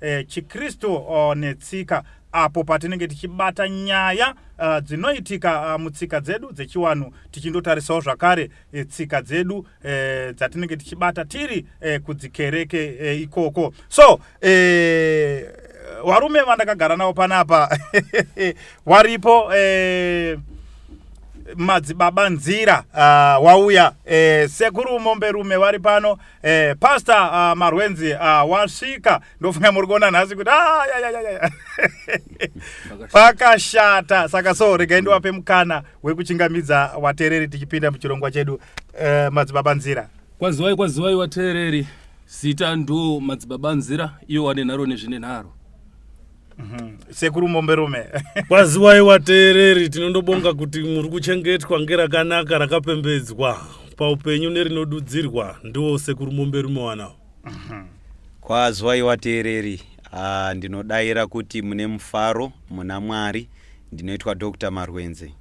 eh, chikristu uh, netsika apo patinenge tichibata nyaya uh, dzinoitika uh, mutsika dzedu dzechiwanhu tichindotarisawo zvakare eh, tsika dzedu eh, dzatinenge tichibata tiri eh, kudzikereke eh, ikoko so eh, varume vandakagara navo panapa waripo eh, madzibaba nzira uh, wauya eh, sekuru momberume vari pano Eh, pastor uh, marwenzi uh, wasvika ndofunga muri kuona nhasi kuti ah, pakashata saka so regai ndiwape mukana wekuchingamidza wateereri tichipinda muchirongwa chedu uh, madzibaba nzira kwaziwai kwaziwai wateereri zita ndo madzibaba nzira iyo wane nharo nezvine nharo Mhm. sekuru momberume kwaziwai wateereri tinondobonga kuti muri kuchengetwa ngerakanaka rakapembedzwa paupenyu nerinodudzirwa ndiwo sekuru momberume wanawo mhm. kwaziwai wateereri ah, ndinodaira kuti mune mufaro muna mwari ndinoitwa dr marwenze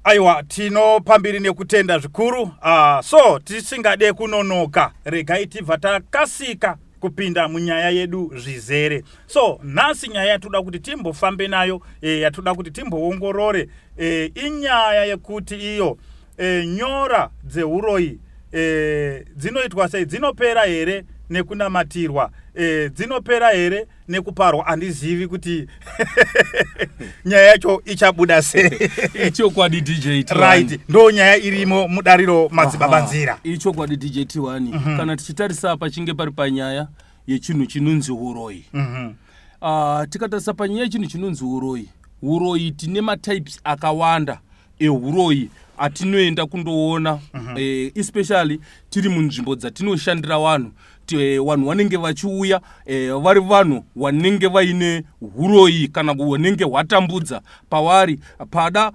Aiwa, tinopa mbiri nekutenda zvikuru. Uh, so tisingade kunonoka, regai tibva takasika kupinda munyaya yedu zvizere. So nhasi nyaya yatoda kuti timbofambe nayo e, yatoda kuti timboongorore e, inyaya yekuti iyo e, nyora dzeuroyi e, dzinoitwa sei, dzinopera here nekunamatirwa e, dzinopera here nekuparwa handizivi kuti nyaya yacho ichabuda sei ichokwadi dj right ndo nyaya irimo mudariro madzibaba nzira ichokwadi dj t mm -hmm. kana tichitarisa pachinge pari panyaya yechinhu chinonzi uroyi mm -hmm. uh, ah, tikatarisa panyaya yechinhu chinonzi uroyi uroyi tine matypes akawanda euroyi atinoenda kundoona mm -hmm. eh, especially tiri munzvimbo dzatinoshandira vanhu Eh, vanhu vanenge vachiuya eh, vari vanhu vanenge vaine uroyi kana hunenge hwatambudza pavari pada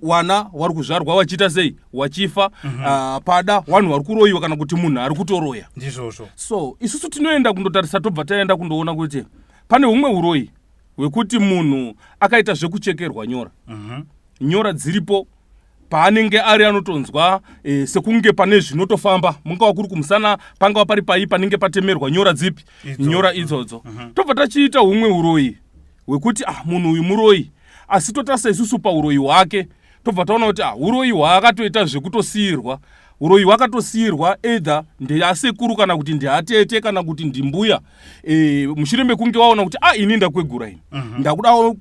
vana vari kuzvarwa vachiita sei vachifa mhm. ah, pada vanhu vari kuroyiwa kana kuti munhu ari kutoroya ndizvozvo so isusu tinoenda kundotarisa tobva taenda kundoona kuti pane humwe uroyi hwekuti munhu akaita zvekuchekerwa nyora mhm. nyora dziripo paanenge ari anotonzwa e, sekunge pane zvinotofamba mungava kuri kumusana pangava pari pai panenge patemerwa nyora dzipi Idzo. nyora idzodzo uh mhm. -huh. tobva tachiita umwe uroyi hwekuti ah, munhu uyu muroyi asi totarisa isusu pauroyi hwake tobva taona kuti ah, uroyi hwaakatoita zvekutosiirwa uroyi hwakatosiirwa either ndeasekuru kana kuti ndeatete kana kuti ndimbuya e, mushure mekunge waona kuti a ah, ini ndakwegura ini mhm.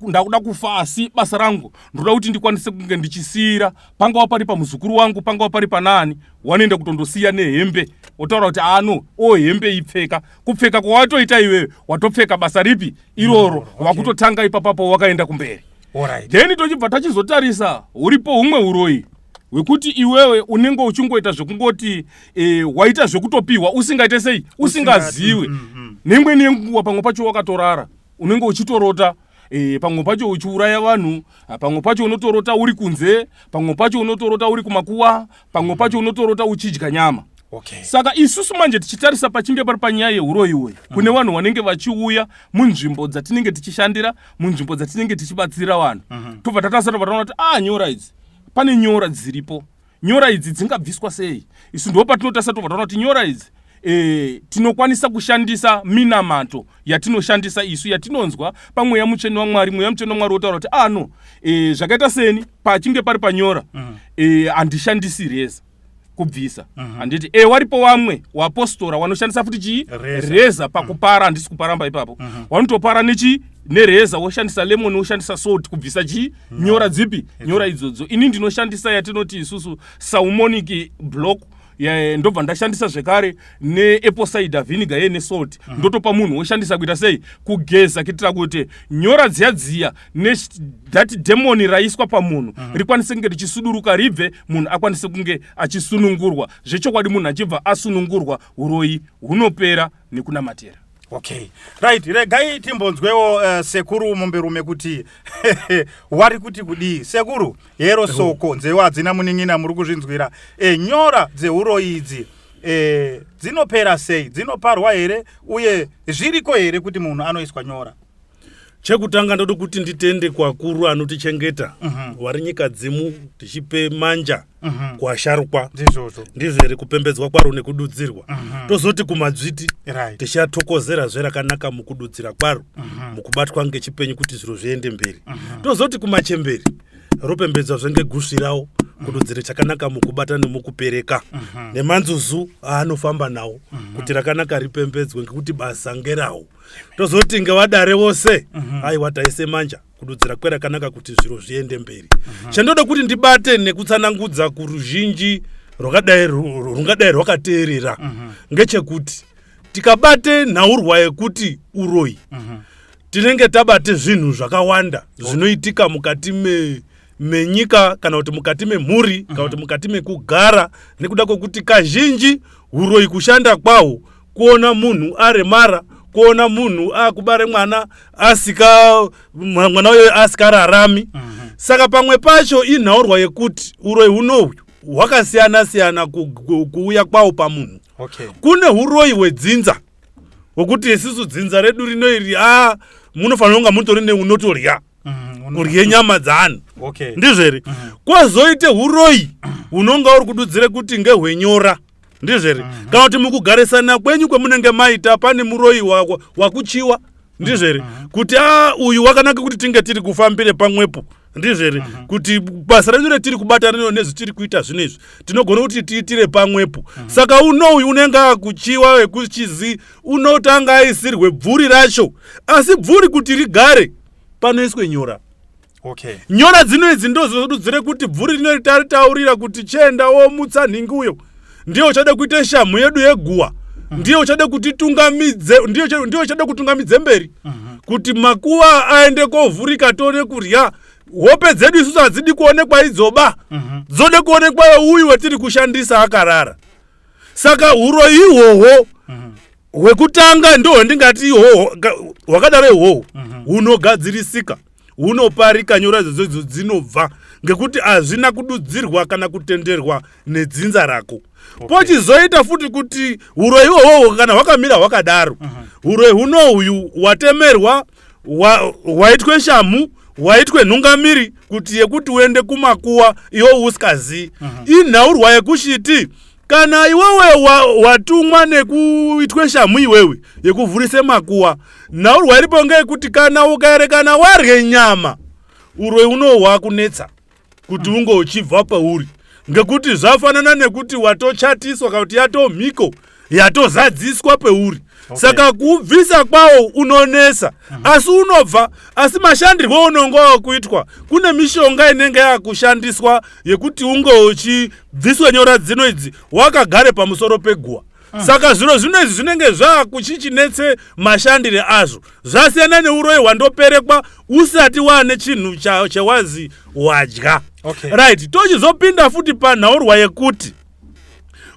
ndakuda kufa asi basa rangu ndoda kuti ndikwanise kunge ndichisiyira pangava pari pamuzukuru wangu pangava pari panaani wanoenda kutondosiya nehembe wotaura kuti ano o hembe ipfeka kupfeka kwawatoita iwewe watopfeka basa ripi iroro mm, okay. wakutotanga ipapapo wakaenda kumberi right. then tochibva tachizotarisa huripo humwe uroyi hwekuti iwewe unenge uchingoita zvekungoti e, waita zvekutopihwa usingaite sei usingaziwe mm, mm, mm. neimweni yenguva pamwe pacho wakatorara unenge uchitorota e, pamwe pacho uchiuraya vanhu ah, pamwe pacho unotorota uri kunze pamwe pacho unotorota uri kumakuwa pamwe pacho unotorota uchidya nyama Okay. Saka isusu manje tichitarisa pachinge pari panyaya yeuroyi uyu mm. kune vanhu vanenge vachiuya munzvimbo dzatinenge tichishandira munzvimbo dzatinenge tichibatsira vanhu mm -hmm. tobva tatasara vataona kuti ah nyora idzi pane nyora dziripo nyora idzi dzingabviswa sei isu ndo patinotasa tobva taona kuti nyora idzi e, tinokwanisa kushandisa minamato yatinoshandisa isu yatinonzwa pamweya mutsvene wamwari mweya mutsvene wamwari wotaura kuti ano ah, e, eh, zvakaita seni pachinge pari panyora mm. e, handishandisi reza kubvisa mhm. handiti mm -hmm. e waripo wamwe wapostora wanoshandisa futi chii reza, reza pakupara mhm. handisi mm. kuparamba ipapo mm -hmm. wanotopara nechii nereza woshandisa lemoni woshandisa salt kubvisa chii no. nyora dzipi It's nyora idzodzo ini ndinoshandisa yatinoti isusu saumonic block Yeah, ndobva ndashandisa zvekare neapple cider vinegar ye nesalt uh -huh. ndotopa munhu woshandisa kuita sei kugeza kuitira kuti nyora dziya dziya that demoni raiswa pamunhu uh -huh. rikwanise kunge richisuduruka ribve munhu akwanise kunge achisunungurwa zvechokwadi munhu achibva asunungurwa uroyi hunopera nekunamatira okay right regai timbonzwewo uh, sekuru momberume kuti wari kuti kudii sekuru hero soko nzeu hadzina munin'ina muri kuzvinzwira e, nyora dzeuroyi idzi e, dzinopera sei dzinoparwa here uye zviriko here kuti munhu anoiswa nyora chekutanga ndodi kuti nditende kwakuru anotichengeta mm -hmm. wari nyika dzimu tichipe manja Mhm. kuasharukwa ndizvozvo ndizvo here kupembedzwa kwaro nekududzirwa Mhm. tozoti kumadzviti right tichatokozera zve rakanaka mukududzira kwaro Mhm. mukubatwa ngechipenyu kuti zviro zviende mberi Mhm. tozoti kumachemberi ropembedzwa zve ngegusvirawo kududzira chakanaka mukubata nemukupereka Mhm. nemanzuzu aanofamba nawo kuti rakanaka ripembedzwe ngekuti basa ngerawo tozoti ngevadare vose Mhm. aiwa taise manja kududzira kwerakanaka kuti zviro zviende mberi chandoda kuti ndibate nekutsanangudza kuruzhinji rwakadai ru- rungadai rwakateerera ngechekuti tikabate nhaurwa yekuti uroyi tinenge tabate zvinhu zvakawanda zvinoitika mukati me menyika kana kuti mukati memhuri kana kuti mukati mekugara nekuda kwekuti kazhinji uroyi kushanda kwaho kuona munhu aremara kuona munhu akubare mwana asika mwana uyo asikararami mm -hmm. saka pamwe pacho inhaurwa yekuti uroyi hunohwu hwakasiyana siyana kuuya kwawo pamunhu okay. kune uroyi hwedzinza hwekuti isisu dzinza redu rino iri a ah, munofanira kunga mutori neunotorya mm, kurye nyama dzaani okay. ndizveri mm. kwazoite uroyi hunonga uri kududzire kuti ngehwenyora ndizvo here mhm. kana kuti mukugarisana kwenyu kwemunenge maita pane muroyi wakuchiwa ndizvo here mhm. kuti a uyu wakanaka kuti tinge tiri kufambire pamwepo ndizvo here mhm. kuti basa renyu retiri kubata rino nezvitiri kuita zvino izvi tinogona kuti tiitire pamwepo saka unouyu unenge akuchiwa wekuchizi unotanga aisirwe bvuri racho asi bvuri kuti rigare panoiswe nyora okay. nyora dzino idzi ndozodudzire kuti bvuri rino ritaritaurira kuti chenda womutsa nhingi uyo ndiye uchade kuita shamhu yedu yeguwa mm. ndiye uchade kutitungamidze ndiye uchade kutungamidze mberi mm -hmm. kuti makuva aende kovhurika tone kurya hope dzedu isusu hadzidi kuonekwa idzoba mm -hmm. dzode kuonekwa yeuyu wetiri kushandisa akarara saka huroyi ihwohwo mhm. hwekutanga mm -hmm. ndohwendingati ihwohwo hwakadaro ihwohwo mm -hmm. hunogadzirisika mm -hmm. hunoparika nyora dzodzo dzinobva ngekuti hazvina kududzirwa kana kutenderwa nedzinza rako okay. pochizoita futi kuti uroyi hwohwohwo kana hwakamira hwakadaro uh -huh. uroyi hunohuyu watemerwa hwaitwe wa shamhu waitwe nhungamiri kuti yekuti uende kumakuwa iwo usikazii uh -huh. inhaurwa yekushiti kana iwewe watumwa wa nekuitwe shamhu iwewe yekuvhurise makuwa nhau rwairipo ngeyekuti kana ukaerekana warye nyama uroi unohwa kunetsa kuti unge uchibva pauri ngekuti zvafanana nekuti watochatiswa kana kuti yatomhiko yatozadziswa peuri okay. saka kubvisa kwawo unonetsa mm -hmm. asi unobva asi mashandirwo unonge wakuitwa kune mishonga inenge yakushandiswa yekuti unge uchibviswa nyora dzino idzi wakagare pamusoro peguwa mm. saka zviro zvino izvi zvinenge zvakuchichinetse mashandire azvo zvasiyana neuroyi hwandoperekwa usati waane chinhu chawazi wadya okay. right tochizopinda futi panhaurwa yekuti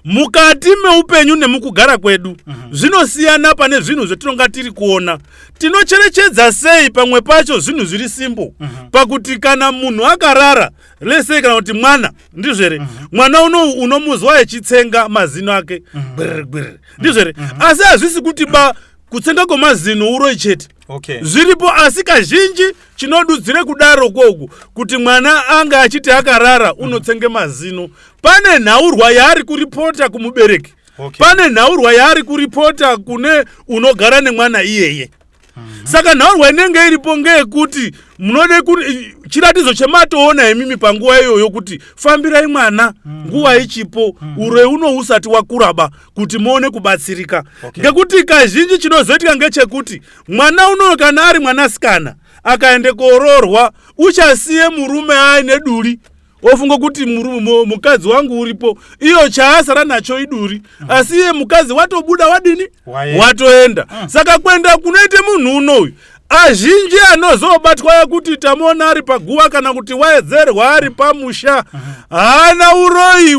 mukati meupenyu nemukugara kwedu mhm. zvinosiyana pane zvinhu zvetinonga tiri kuona tinocherechedza sei pamwe pacho zvinhu zviri simbo mhm. pakuti kana munhu akarara lesei kana kuti mwana ndizvere mhm. mwana unou unomuzwa echitsenga mazino ake gbirgbir ndizvere asi hazvisi kuti ba kutsenga kwemazino uroi chete zviripo asi kazhinji chinodudzire kudaro kwoku kuti mwana ange achiti akarara unotsenge mazino pane nhaurwa yaari kuripota kumubereki Okay. pane nhaurwa yaari kuripota kune unogara nemwana iyeye saka nhaurwa inenge iripo ngeyekuti munode ku chiratidzo chematoona imimi panguva iyoyo kuti fambirai mwana nguva ichipo ureu unousati wakuraba kuti muone kubatsirika okay. ngekuti kazhinji chinozoitika ngechekuti mwana unoyo kana ari mwanasikana akaende koroorwa uchasiye murume aine duri ofunga kuti mukadzi wangu uripo iyo chaasara nacho iduri mm. asi iye mukadzi watobuda wadini watoenda mm. saka kuenda kunoite munhu unouyu azhinji anozobatwa ekuti tamuona ari paguva kana kuti waedzerwa ari pamusha haana uroyi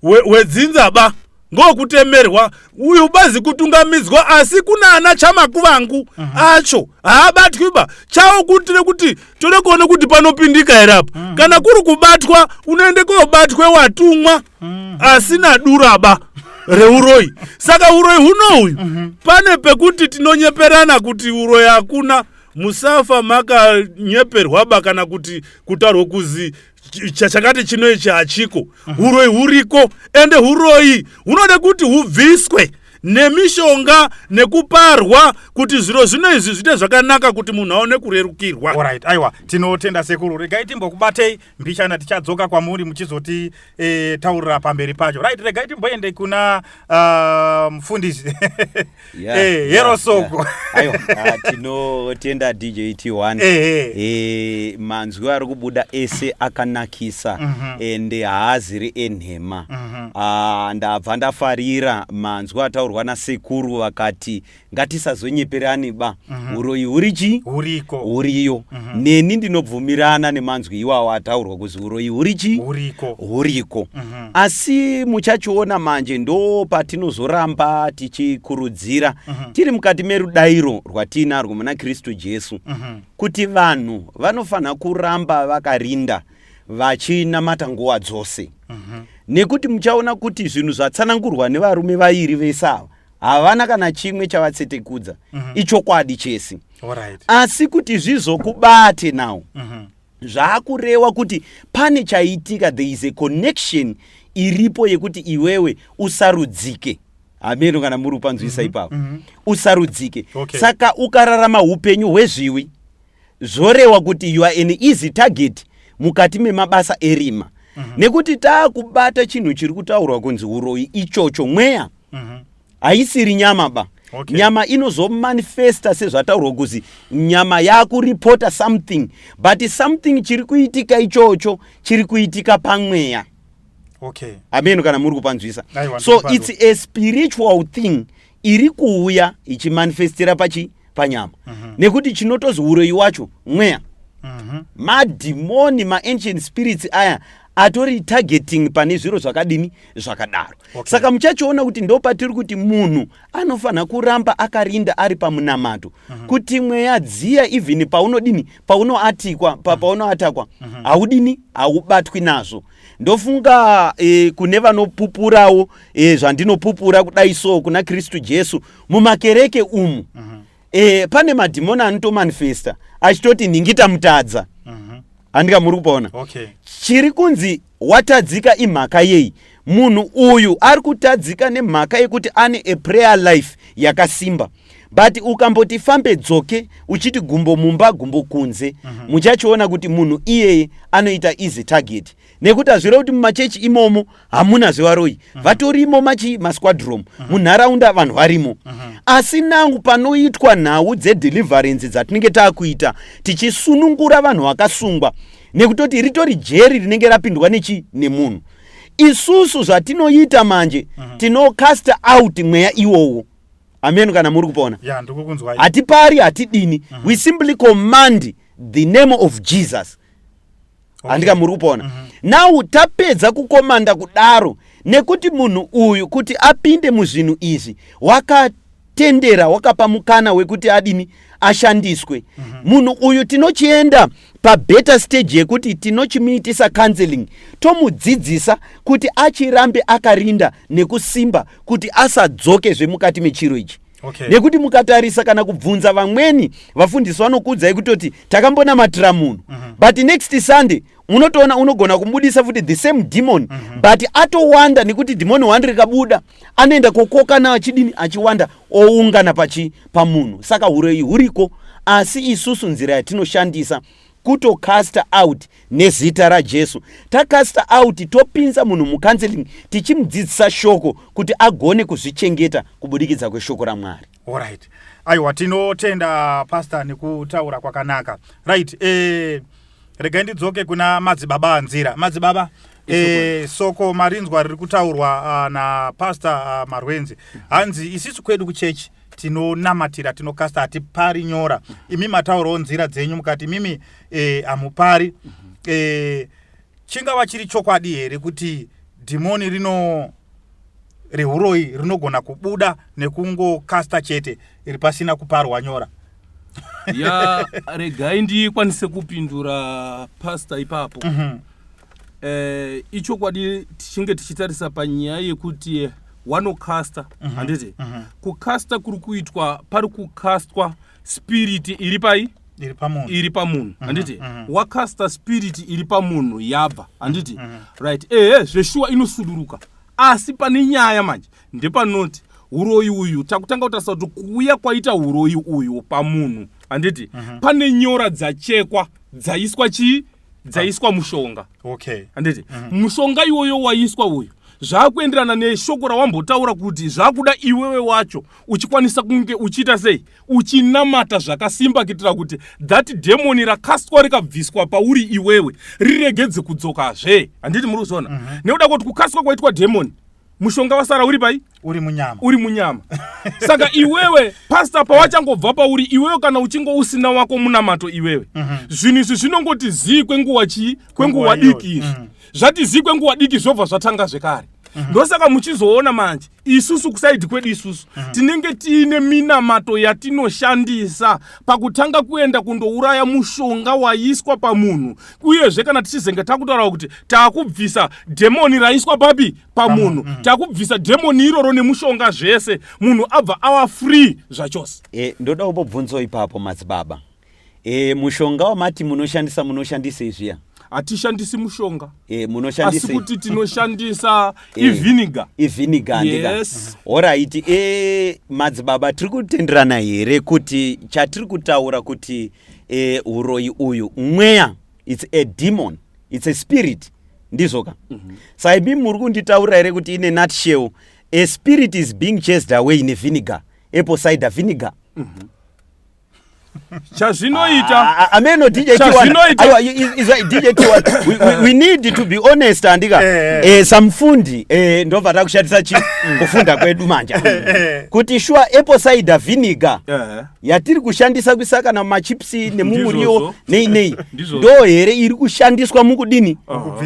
hwedzinza ba ngokutemerwa uyu bazi kutungamidzwa asi kuna ana chamakuvangu acho haabatwi ba chawo kutire kuti toda kuona kuti panopindika here apa mm. kana kuri kubatwa unoende kobatwe watumwa mm. asina duraba reuroyi saka uroyi huno uyu mm -hmm. pane pekuti tinonyeperana kuti uroyi hakuna musafa makanyeperwaba kana kuti kutaurwa kuzi chakati chino ichi hachiko uroyi huriko ende uroyi hunoda kuti hubviswe nemishonga nekuparwa kuti zviro zvino izvi zviite zvakanaka kuti munhu aone kurerukirwa right aiwa tinotenda sekuru regai timbokubatei mbichana tichadzoka kwamuri muchizoti e, taurira pamberi pacho right regai timboende kuna uh, mufundisi Yeah, eh, hero yeah, soko yeah. ayo ah, tinotenda dj t1 eh, eh. eh, manzwi ari kubuda ese akanakisa mm -hmm. ende haaziri enhema mm -hmm. ah, ndabva ndafarira manzwi ataurwa nasekuru vakati ngatisazonyeperani ba mm -hmm. uroyi huri chii huriko huriyo mm -hmm. neni ndinobvumirana nemanzwi iwawo ataurwa kuzi uroyi huri chii huriko huriko mm -hmm. asi muchachiona manje ndo patinozoramba tichikurudzira uh mhm. -huh. tiri mukati merudairo rwatiinarwo muna kristu jesu uh mhm. -huh. kuti vanhu vanofanira kuramba vakarinda vachinamata nguva dzose uh mhm. -huh. nekuti muchaona kuti zvinhu zvatsanangurwa nevarume vairi vese ava havana kana chimwe chavatsetekudza uh -huh. ichokwadi chese right. asi kuti zvizokubate now uh -huh zvaakurewa kuti pane chaitika there is a connection iripo yekuti iwewe usarudzike hameno kana muri kupanzwisa mhm, ipapo mm -hmm. usarudzike okay. saka ukararama upenyu hwezviwi zvorewa kuti you are an easy target mukati memabasa erima mm -hmm. nekuti taakubata chinhu chiri kutaurwa kunzi uroyi ichocho mweya mm -hmm. haisiri nyama ba okay. nyama inozomanifesta sezvataurwa kuzi nyama yakuripota something but something chiri kuitika ichocho chiri kuitika pamweya okay. ameno kana muri kupanzwisa so it's a spiritual thing iri kuuya ichimanifestira pachi panyama mm -hmm. nekuti chinotozi uroyi wacho mweya mm -hmm. madhimoni maancient spirits aya atori targeting pane zviro zvakadini zvakadaro okay. saka muchachiona kuti ndo patiri kuti munhu anofanira kuramba akarinda ari pamunamato uh mhm. -huh. kuti mweya dziya even paunodini paunoatikwa pa, mhm. paunoatakwa uh mhm. -huh. haudini haubatwi nazvo ndofunga e, kune vanopupurawo e, zvandinopupura kudai so kuna kristu jesu mumakereke umu uh -huh eh, pane madhimoni anotomanifesta achitoti nhingita mutadza mhm. handika muri kupaona okay. chiri kunzi watadzika imhaka yei munhu uyu ari kutadzika nemhaka yekuti ane a prayer life yakasimba but ukamboti fambe dzoke uchiti gumbo mumba gumbo kunze mhm. muchachiona mm -hmm. kuti munhu iyeye anoita easy target nekuti hazvireva kuti mumachechi imomo hamuna zvevaroyi uh mhm. -huh. vatorimo machi masquadrom uh mhm. -huh. munharaunda vanhu varimo uh mhm. -huh. asi nangu panoitwa nhau dzedeliverance dzatinenge taakuita tichisunungura vanhu vakasungwa nekutoti ritori jeri rinenge rapindwa nechi nemunhu isusu zvatinoita manje uh -huh. tinocasta out mweya iwowo ameno kana muri kupona yeah, hatipari hatidini uh -huh. we simply command the name of jesus handika muri kupona mm -hmm. now tapedza kukomanda kudaro nekuti munhu uyu kuti apinde muzvinhu izvi wakatendera wakapa mukana wekuti adini ashandiswe mm -hmm. munhu uyu tinochienda pabetter stage yekuti tinochimuitisa counseling tomudzidzisa kuti achirambe akarinda nekusimba kuti asadzoke zvemukati mechiro ichi okay. nekuti mukatarisa kana kubvunza vamweni vafundisi vanokuudzai kutoti takambonamatira munhu mm -hmm. but next sunday unotoona unogona kumudisa futi the same demon mm -hmm. but atowanda nekuti demoni wani rikabuda anoenda kokokana achidini achiwanda oungana pachi pamunhu saka huroyi huriko asi isusu nzira yatinoshandisa kuto caster out nezita rajesu tacaster out topinza munhu mucounseling tichimudzidzisa shoko kuti agone kuzvichengeta kubudikidza kweshoko ramwari orit aiwa tinotenda pasta nekutaura kwakanaka right e, regai ndidzoke kuna madzibaba anzira madzibaba E, soko marinzwa riri kutaurwa uh, napastor uh, marwenzi hanzi isisu kwedu kuchechi tinonamatira tinokasta hatipari nyora imi mataurawo nzira dzenyu mukati imimi eh, hamupari e, mm-hmm. e, eh, chingava chiri chokwadi here kuti dhimoni rino rehuroyi rinogona kubuda nekungokasta chete iri pasina kuparwa nyora ya regai ndikwanise kupindura pasta ipapo mm -hmm. eh, ichokwadi tichinge tichitarisa panyaya yekuti wanocaster mhm. handiti mm -hmm. kucaster kuri kuitwa pari kucastwa spiriti iri pai iri pamunhu iri pamunhu mm -hmm. handiti mm -hmm. wacaster spiriti iri pamunhu yabva handiti mm -hmm. right ehe zveshuwa inosuduruka asi pane nyaya manje ndepanoti uroyi uyu takutanga kutarisa kuti kuuya kwaita uroyi uyu pamunhu handiti mm -hmm. pane nyora dzachekwa dzaiswa chii dzaiswa mushonga okay handiti mm -hmm. mushonga iwoyo waiswa uyu zvakuenderana neshoko rawambotaura kuti zvakuda iwewe wacho uchikwanisa kunge uchiita sei uchinamata zvakasimba kuitira kuti that demoni rakastwa rikabviswa pauri iwewe riregedze kudzokazve handiti muri kuzona mm -hmm. nekuda kuti kukasika kwaitwa demoni mushonga wasara uri pai uri munyama uri munyama saka iwewe pasta pawachangobva pauri iwewe kana uchinge usina wako munamato iwewe mhm. zvinhu izvi zvinongoti zii kwenguva chii kwenguva diki izvi mhm. zvati zii kwenguva diki zvobva zvatanga zvekare mhm. ndosaka muchizoona manje isusu kusaidi kwedu isusu tinenge tiine minamato yatinoshandisa pakutanga kuenda kundouraya mushonga waiswa pamunhu uyezve kana tichizenge takutaurawo kuti takubvisa dhemoni raiswa papi pamunhu mm. takubvisa dhemoni iroro nemushonga zvese munhu abva awa free zvachose e, ndoda kubobvunzo ipapo madzibaba e, mushonga wamati munoshandisa munoshandisei zviya hatishandisi mushonga e, asi kuti tinoshandisa e, iviniga iviniga yes. horaiti e, madzibaba tiri kutenderana here kuti chatiri kutaura kuti e, uroyi uyu mweya its a demon its a spirit ndizvo ka mm -hmm. saibi muri kunditaurira here kuti ine nutshell a spirit is being chased away nevinegar apple cider vinegar mm -hmm chazvinoita ah, ah, ah, ameno dj we need to be honest andika eh, eh. eh, samufundi eh, ndobva takushatisa chi kufunda kwedu manja eh, eh. kuti shuwa apple cider vinegar eh. yatiri kushandisa kuisa kana machipsi nemumuriwo nei nei ndo here iri kushandiswa mukudini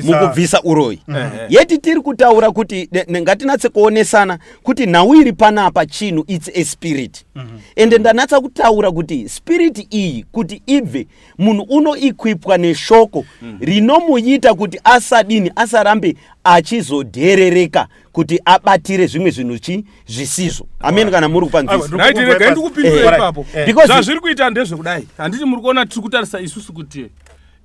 mukubvisa uroyi yeti tiri kutaura kuti ngatinatse kuonesana kuti nhau iri panapa chinhu its a spirit mhm. ende ndanatsa kutaura kuti spirit iyi kuti ibve munhu unoequipwa neshoko mhm. rinomuita kuti asadini asarambe achizodherereka kuti abatire zvimwe zvinhu chi zvisizvo ameni kana muri kupanzisazviri kuita ndezvekudai handiti muri kuona tiri kutarisa isusu kuti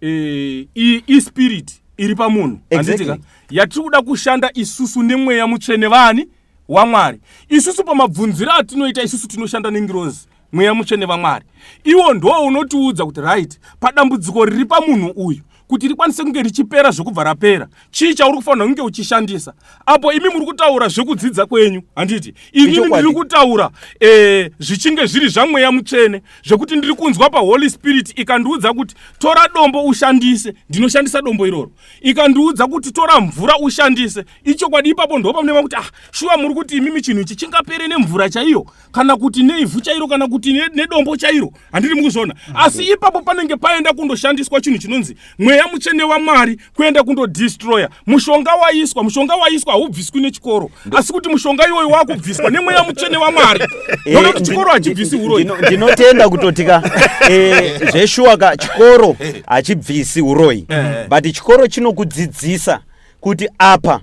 eh, ispirit iri pamunhu handitika yatiri kuda kushanda isusu nemweya mutsvene vani wamwari isusu pamabvunziro atinoita isusu tinoshanda nengirozi mweya mutsvene vamwari iwo ndoo unotiudza kuti right padambudziko riri pamunhu uyu kuti rikwanise kunge richipera zvekubva rapera chii chauri kufanira kunge uchishandisa apo imi muri kutaura zvekudzidza kwenyu handiti inini ndiri kutaura e, zvichinge zviri zvamweya mutsvene zvekuti ndiri kunzwa paholy spirit ikandiudza kuti tora dombo ushandise ndinoshandisa dombo iroro ikandiudza kuti tora mvura ushandise ichokwadi ipapo ndopamunema kuti ah shuwa muri kuti imimi chinhu ichi chingapere nemvura chaiyo kana kuti neivhu chairo kana kuti nedombo chairo handiri mukuzviona asi ipapo panenge paenda kundoshandiswa chinhu chinonzi mweya mutsvene wamwari kuenda kundodistroya mushonga waiswa mushonga waiswa haubviswi nechikoro asi kuti mushonga iwoyo wakubviswa nemweya mutsvene wamwari eh, nokuti chikoro hachibvisi uroyi ndinotenda kutotika eh, zveshuwaka chikoro hachibvisi uroyi eh. but chikoro chinokudzidzisa kuti apa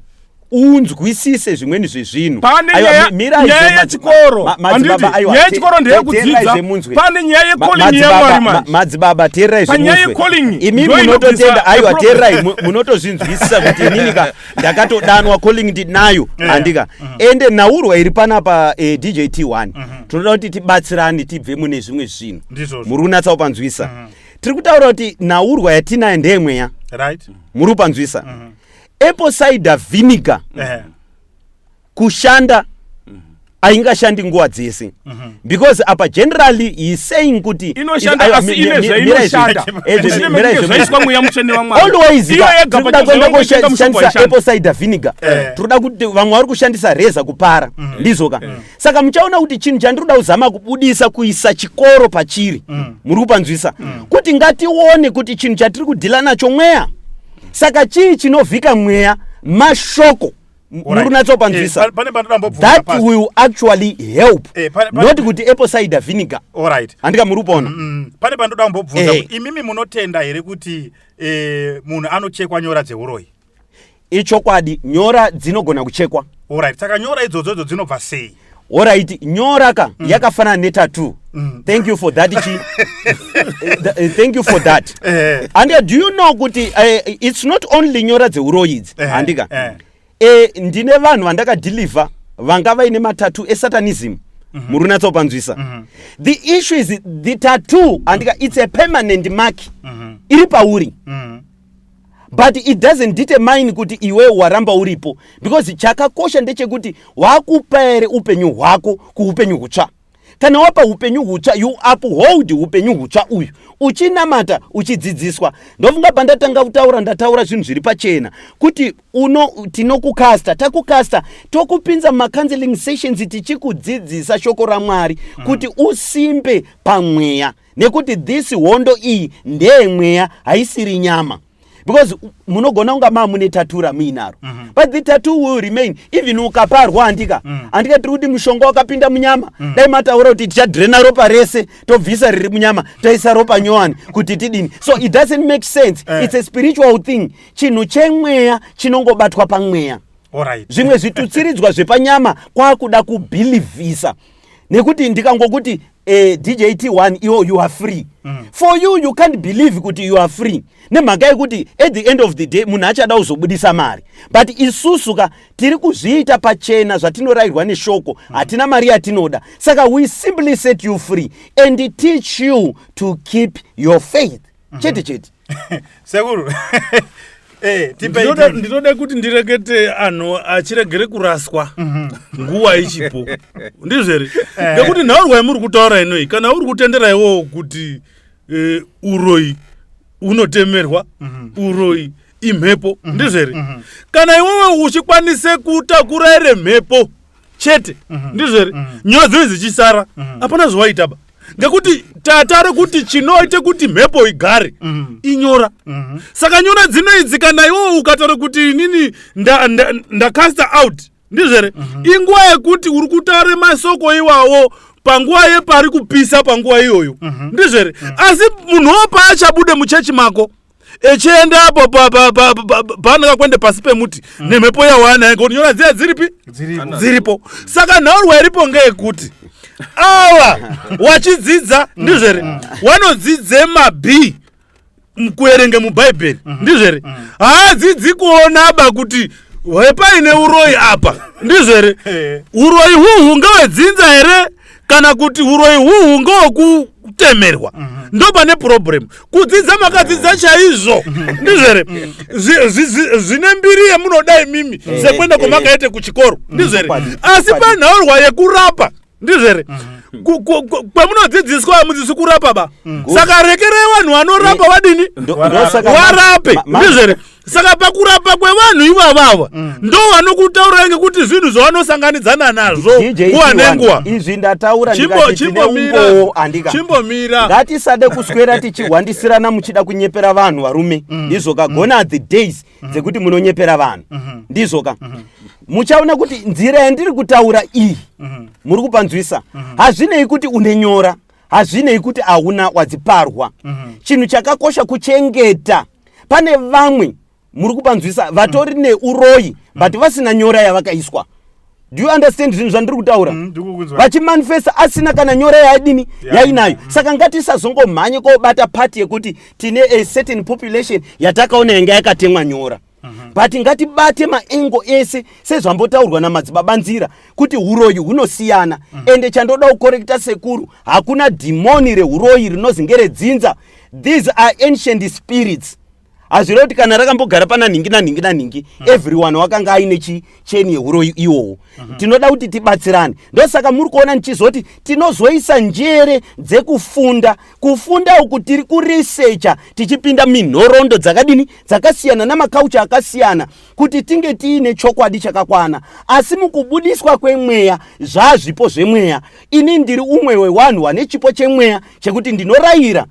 unzwisise zvimweni zvezvinhu pane nyaya yechikoro handiti nyaya yechikoro ndeyekudzidza pane nyaya yecoling yemwari madzibaba teerai panyaya yecoling imi munototenda aiwa teerai munotozvinzwisisa kuti ininika ndakatodanwa coling ndinayo handika mhm. ende nhaurwa iri panapa eh, djt 1 mhm. tinoda kuti tibatsirane tibve mune zvimwe zvinhu muri kunatsa kupanzwisa mhm. tiri kutaura kuti nhaurwa yatinayo ndeyemweya right muri kupanzwisa mm -hmm. apple cider vinegar mm -hmm. kushanda haingashandi nguva dzese mhm. because apa generally he saying kuti alwayskushandisa apple cider vinegar eh. tikuda kuti vamwe vari kushandisa reza kupara mhm. ndizoka eh. saka muchaona kuti chinhu chandiri kuda kuzama kubudisa kuisa chikoro pachiri mm. muri kupanzwisa mm. kuti ngatione kuti chinhu chatiri kudhila nacho mweya saka chii chinovhika mweya mashoko muri kunatsopanzwisa eh, that will actually help eh, not kuti apple cider vinegar handika muri kupona mm, mm. pane pandoda kumbobvunza eh. imimi munotenda here kuti munhu anochekwa nyora dzeuroyi ichokwadi nyora dzinogona kuchekwa orit saka nyora idzodzo idzo dzinobva sei orit nyora ka mm. yakafanana netatu mm. thank you for that chi eh, thank you for that eh. and uh, do you know kuti uh, it's not only nyora dzeuroyi idzi eh, handika eh. eh, ndine vanhu vandakadeliver vanga vaine matatu esatanism mm -hmm. muri unatsopanzwisa mm -hmm. the issue is the tattoo handika it's a permanent mark mm -hmm. iri pauri mm -hmm. but it doesn't determine kuti iwe waramba uripo because chakakosha ndechekuti wakupa here upenyu hwako kuupenyu hutsva kana wapa upenyu hutsva you uphold upenyu hutsva uyu uchinamata uchidzidziswa ndofunga pandatanga kutaura ndataura zvinhu zviri pachena kuti uno tinokukasta takukasta tokupinza macounseling sessions tichikudzidzisa shoko ramwari mm. kuti usimbe pamweya nekuti this hondo iyi ndeye mweya haisiri nyama because munogona kunga maa mune tatu ramuinaro mm -hmm. but the tatu will remain even ukaparwa handika mm. handika tiri kuti mushonga wakapinda munyama mm. dai mataura kuti tichadrena ropa rese tobvisa riri munyama toisa ropa nyowani kuti tidini so it doesn't make sense eh. it's a spiritual thing chinhu chemweya chinongobatwa pamweya zvimwe zvitutsiridzwa zvepanyama kwakuda kubhilivhisa nekuti ndikangokuti eh, dj t1 iwo you are free mm. for you you can't believe kuti you are free nemhaka yekuti at the end of the day munhu achada kuzobudisa mari but isusu ka tiri kuzviita pachena zvatinorayirwa neshoko mm. hatina mari yatinoda saka we simply set you free and teach you to keep your faith mm -hmm. chete chete sekuru eh, ndinoda kuti ndirekete anhu achiregere kuraswa mhm. nguva ichipo ndizvo here eh. nekuti nhau rwai muri kutaura inoi kana uri kutendera iwowo kuti eh, uroyi unotemerwa mhm. uroyi imhepo mhm. ndizvo here kana iwewe uchikwanise kutakura ere mhepo chete ndizvo here nyaya dzoi dzichisara hapana zvawaitaba ngekuti tatare kuti chinoita kuti mhepo igare mm. inyora mm-hmm. saka nyora dzinoidzi kana iwowo ukataura kuti inini ndacasta out ndizvere mm-hmm. inguva yekuti uri kutaura masoko iwawo panguva yepari kupisa panguva iyoyo mm-hmm. ndizvere asi munhu wo paachabude muchechi mako echiendapo paanaka kuenda pasi pemuti mm. nemhepo yawana ngoti nyora dziya dziripi dziripo saka nhaurwa iripo ngeyekuti awa wachidzidza mm. ndizvere mm. wanodzidze mab kuerenge mubhaibheri ndizvere haadzidzi kuonaba kuti hwepaine uroyi apa ndizvere eh. uroyi huhu ngewedzinza here kana kuti uroyi huhu ngowokutemerwa mm -hmm. ndopane problem kudzidza makadzidza chaizvo ndizvere zvine mbiri yemunoda imimi eh, sekuenda eh, kwamakaite eh. kuchikoro mm, ndizvere asi panhaurwa yekurapa ndizvere mm -hmm kwamunodzidziswa hamudzisi kurapa ba mm. saka rekerai vanhu vanorapa mm. vadini warape ndizvere saka pakurapa kwevanhu ivavava mm. ndo vanokutaurira ngekuti zvinhu zvavanosanganidzana nazvo nguva nenguva izvi ndataura ndikatineumbowo andika chimbomira ngatisade kuswera tichihwandisirana muchida kunyepera vanhu varume mm. ndizvoka mm. gona the days mm. dzekuti munonyepera vanhu mm-hmm. ndizvoka mm-hmm. muchaona kuti nzira yandiri kutaura iyi mm-hmm. muri kupanzwisa hazvinei kuti une nyora hazvinei kuti hauna wadziparwa chinhu chakakosha kuchengeta mm -hmm. pane vamwe muri kupanzwisa vatori mm. neuroyi mm. but vasina nyora yavakaiswa do you understand zvinhu zvandiri kutaura mm, vachimanifesta mm, asina kana nyora yaadini yeah. yainayo mm. saka ngatisazongomhanye kobata pati yekuti tine a certain population yatakaona yanga yakatemwa nyora mm -hmm. but ngatibate maengo ese sezvambotaurwa namadzibaba nzira kuti huroyi hunosiyana mm -hmm. ende chandoda kukorekita sekuru hakuna dhimoni reuroyi rinozi ngeredzinza mm -hmm these are ancient spirits hazvireva kuti kana rakambogara pana nhingi nanhingi nanhingi mm. everyone wakanga aine chicheni yeuroyi iwowo mm -hmm. tinoda kuti tibatsirane ndosaka muri kuona ndichizoti tinozoisa njere dzekufunda kufunda uku tiri kuresecha tichipinda minhorondo dzakadini dzakasiyana namakaucha akasiyana kuti tinge tiine chokwadi chakakwana asi mukubudiswa kwemweya zvazvipo zvemweya ini ndiri umwe wewanhu wane chipo chemweya chekuti ndinorayira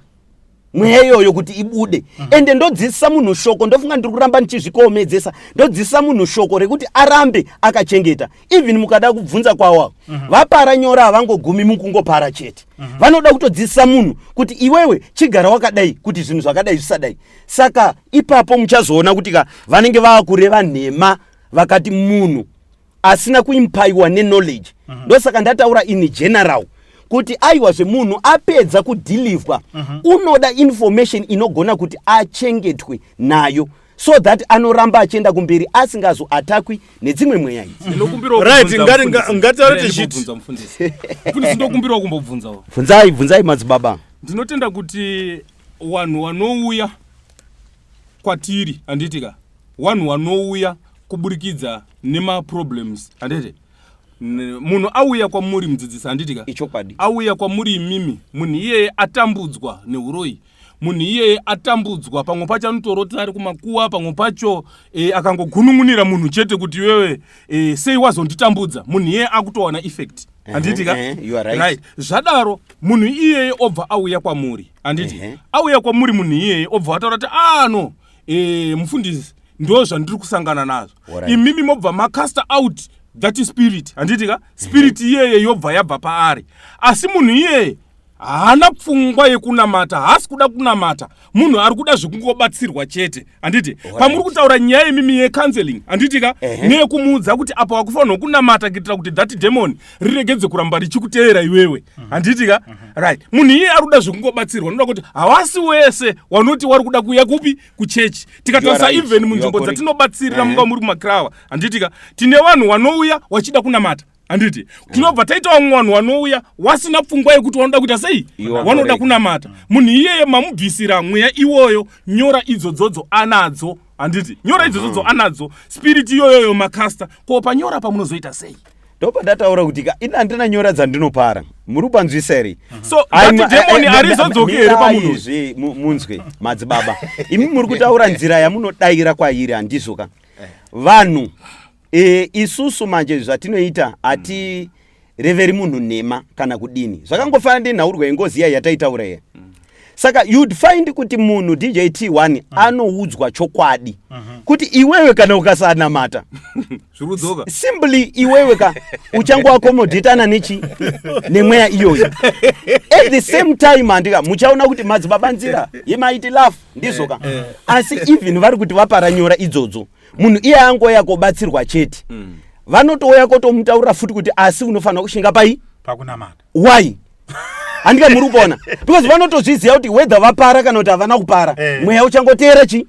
mweya iyoyo kuti ibude mm. ende ndodzidzisa munhu shoko ndofunga ndiri kuramba ndichizvikoomedzesa ndodzidzisa munhu shoko rekuti arambe akachengeta even mukada kubvunza kwawo mm -hmm. vapara nyora havangogumi mukungopara chete mm -hmm. vanoda kutodzidzisa munhu kuti iwewe chigara wakadai kuti zvinhu zvakadai zvisadai saka ipapo muchazoona kuti ka vanenge vaakureva nhema vakati munhu asina kuimpaiwa neknowledge mm -hmm. ndosaka ndataura in general kuti aiwa zvemunhu apedza kudhilivhwa mm -hmm. unoda information inogona kuti achengetwe nayo so that anoramba achienda kumberi asingazoatakwi nedzimwe mweya idziindokumbirawo kumbobvunzawo bvunzai bvunzai madzibaba ndinotenda kuti wanhu wanouya kwatiri handiti ka wanhu wanouya kuburikidza nemaproblems handiti munhu auya kwamuri mudzidzisi handiti ka ichokwadi auya kwamuri imimi munhu iyeye atambudzwa neuroyi munhu iyeye atambudzwa pamwe pacho anotorota ari kumakuwa pamwe pacho e, akangogunun'unira munhu chete kuti iwewe e, sei wazonditambudza munhu iyeye akutowana effect handiti ka eh, eh, right. right zvadaro munhu iyeye obva auya kwamuri handiti uh eh, -huh. auya kwamuri munhu iyeye obva ataura kuti ano ah, e, mufundisi ndo zvandiri kusangana nazvo right. imimi mobva macaster out that spirit handiti ka spirit iyeye yobva yabva paari asi munhu iyeye haana pfungwa yekunamata haasi kuda kunamata munhu ari kuda zvekungobatsirwa chete handiti pamuri kutaura nyaya yemimi yecounseling handiti ka neyekumuudza kuti apo wakufanirwa kunamata kuitira kuti that demon riregedze kuramba richikuteera iwewe mhm. handiti ka mhm. right munhu iye ari kuda zvekungobatsirwa noda kuti hawasi wese wanoti wari kuda kuuya kupi kuchechi tikatarisa even munzvimbo dzatinobatsirira munga muri kumacrawa handiti ka tine vanhu wanouya wachida kunamata handiti tinobva taita vamwe vanhu vanouya wasina pfungwa yekuti wanoda kuita sei wanoda kunamata munhu iyeye mamubvisira mweya iwoyo nyora idzodzodzo anadzo handiti nyora idzodzodzo mm-hmm. anadzo spiriti iyoyoyo makasta ko panyora pamunozoita sei ndopandataura kuti ka ini handina nyora dzandinopara muri kupanzwisa here mhm. sodemoni arizodzoki here pamunhuzve munzwe madzibaba imi muri kutaura nzira yamunodaira kwairi handizvo ka eh. vanhu E, isusu manje zvatinoita ati mm. reveri munhu nhema kana kudini zvakangofanana ndinhaurwa yengozi iya yataitaura iya mm. saka you'd find kuti munhu dj t1 mm. anoudzwa chokwadi mm -hmm. kuti iwewe kana ukasanamata simply iwewe ka uchangoakomodhetana nechi nemweya iyoyi at the same time handika muchaona kuti madzibaba nzira yemaiti lafu ndizoka eh, eh. asi even vari kuti vaparanyora idzodzo munhu iye angouya kobatsirwa chete mm. vanotouya kotomutaurira futi kuti asi unofanira kushinga pai pakunamata why handika muri kupona because vanotozviziva kuti whether vapara kana kuti havana kupara eh. mweya uchangoteera chi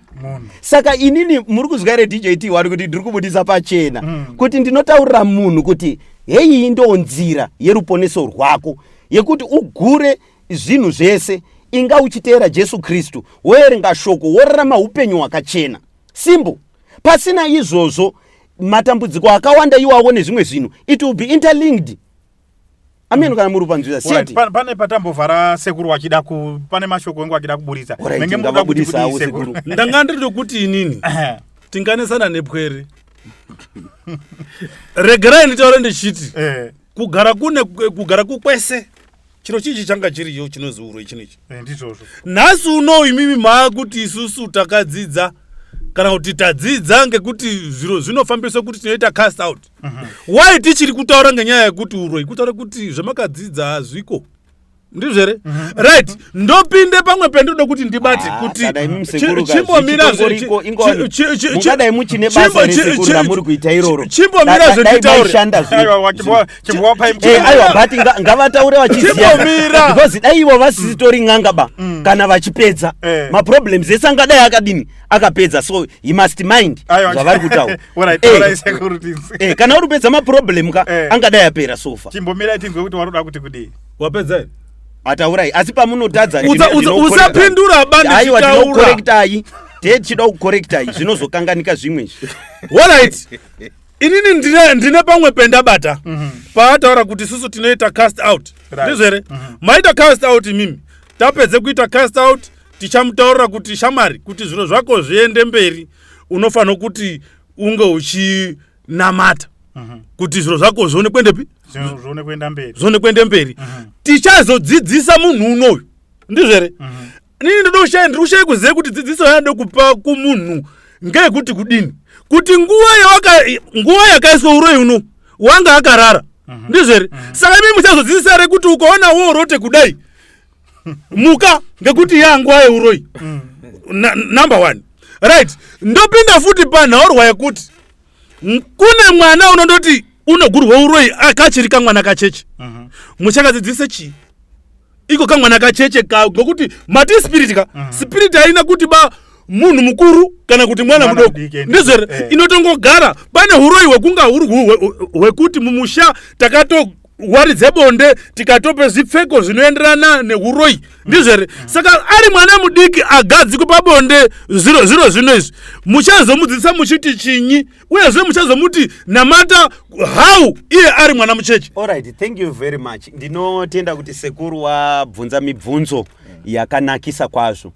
saka inini muri kuzwa here djt wari kuti ndiri kubudisa pachena mm. kuti ndinotaurira munhu kuti heyi ndo nzira yeruponeso rwako yekuti ugure zvinhu zvese inga uchiteera jesu kristu woerenga shoko worarama upenyu hwakachena simple pasina izvozvo matambudziko akawanda iwawo nezvimwe zvinhu it will be interlinked ameno kana muri panzvira seti pane patambovhara sekuru wachida ku pane mashoko engu achida kuburitsa menge muda kuti sekuru ndanga ndiri tokuti inini tinganesana nepwere regerai nditaure ndichiti eh. kugara kune kugara kukwese chiro chichi changa chiriyo chinoziurwa ichinochi eh, ndizvozvo nhasi unou imimi maa kuti isusu takadzidza kana kuti tadzidza ngekuti zviro zvinofambiswa kuti tinoita cast out mhm. why tichiri kutaura ngenyaya yekuti uroi kutaura kuti zvamakadzidza hazviko ndizvo here mhm. right ndopinde pamwe pendoda kuti ndibate ah, kuti chimbomira zvechimbomira zvenditaure Eh, aiwa but ngavataure vachiziva because dai ivo vasisitori n'anga ba mm. kana vachipedza eh. maproblems ese angadai akadini akapedza so he must mind zvavari kutaura eh. kana uri kupedza maproblem ka angadai apera sofa timbomirai tinzwe kuti waroda kuti kudii wapedza ataurai asi pamunotadza usapindura bandaiwa tinokorektai tee tichida kukorektai zvinozokanganika zvimwe izvi inini ndine, ndine pamwe pendabata mm -hmm. paataura kuti susu tinoita cast out ndizvo here mm -hmm. maita cast out imimi tapedze kuita cast out tichamutaurira kuti shamari kuti zviro zvako zviende mberi unofanira kuti unge uchinamata mm -hmm. kuti zviro zvako zvione kuendepi zvione kuenda mberi zvione kuenda mberi mm -hmm. tichazodzidzisa munhu unoyu ndizvo here mm -hmm. inini ndoda kushaya ndiri kushaya kuziva kuti dzidziso yaanoda kupa kumunhu ngeyekuti kudini kuti nguva yawaka nguva yakaiswa uroyi uno wanga akarara mhm. ndizvo here mhm. saka imi muchazodzidzisa re kuti ukaona woorote kudai muka ngekuti yanguva yeuroyi mhm. number one right ndopinda futi panhaurwa yekuti kune mwana unondoti unogurwa uroyi akachiri kamwana kacheche muchakadzidzise chii iko kamwana kacheche ka ngokuti mati spirit ka mm. spirit haina kuti ba munhu mukuru kana kuti mwana mudoko ndizvere eh. inotongogara pane uroyi hwekunga huri hwekuti mumusha takato wari dzebonde tikatope zvipfeko zvinoenderana neuroyi mm. ndizvere mm. saka ari mwana mudiki agadzikwe pabonde zviro zvino izvi muchazomudzidzisa muchiti chinyi uyezve muchazomuti namata how iye ari mwana muchechi alright thank you very much ndinotenda kuti sekuru wabvunza mibvunzo yakanakisa kwazvo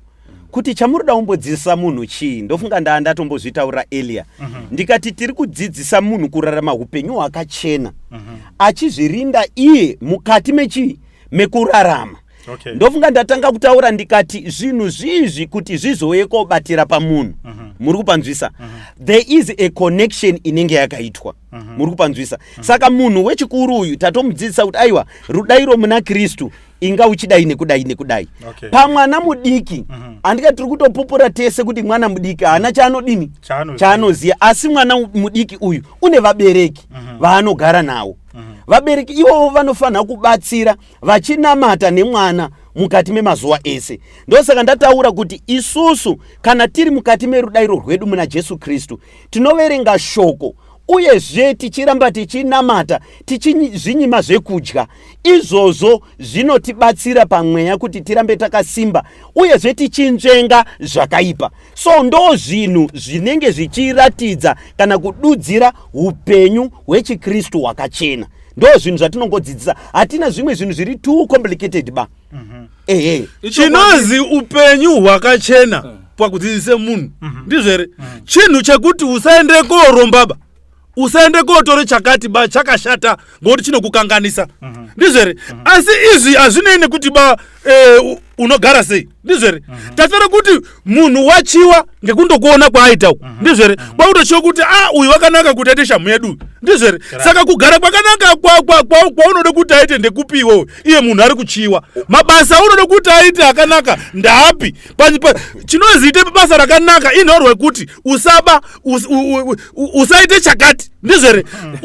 kuti chamuroda umbodzidzisa munhu chii ndofunga ndaa ndatombozvitaurira elia mm -hmm. ndikati tiri kudzidzisa munhu kurarama upenyu hwakachena mm -hmm. achizvirinda iye mukati mechii mekurarama okay. ndofunga ndatanga kutaura ndikati zvinhu zvizvi kuti zvizouye kobatira pamunhu uh mhm. -huh. muri kupanzwisa uh mhm. -huh. there is a connection inenge yakaitwa uh mhm. -huh. muri kupanzwisa uh -huh. saka munhu wechikuru uyu tatomudzidzisa kuti aiwa rudairo muna kristu inga uchidai nekudai nekudai okay. pamwana mudiki uh -huh. andika tiri kutopupura tese kuti mwana mudiki haana chaanodini chaanoziva asi mwana mudiki uyu une vabereki vaanogara uh -huh. nawo uh -huh. vabereki ivovo vanofanira kubatsira vachinamata nemwana mukati memazuva ese ndosaka ndataura kuti isusu kana tiri mukati merudairo rwedu muna jesu kristu tinoverenga shoko uyezve tichiramba tichinamata tichizvinyima zvekudya izvozvo zvinotibatsira pamweya kuti tirambe takasimba uyezve tichinzvenga zvakaipa so ndo zvinhu zvinenge zvichiratidza kana kududzira upenyu hwechikristu hwakachena ndo zvinhu zvatinongodzidzisa hatina zvimwe zvinhu zviri too complicated ba mhm. ehe chinozi upenyu hwakachena eh. pakudzidzise munhu mhm. ndizvo here mhm. chinhu chekuti usaende kooromba ba usaende kootore chakati ba chakashata ngokuti chinokukanganisa ndizvo here asi izvi hazvinei nekuti ba Eh, unogara sei ndizvere mhm. tafanira kuti munhu wachiwa ngekundokuona kwaaita uku mhm. ndizvere mhm. kwakutochiwa kuti a ah, uyu wakanaka kuti aite shamhu yedu ndizvere saka kugara kwakanaka kwaunoda kuti aite ndekupi iwewe iye munhu ari kuchiwa mabasa aunoda kuti aite akanaka ndaapi chinoziita basa rakanaka inhorwe kuti usaba usaite chakati ndizvo here hmm.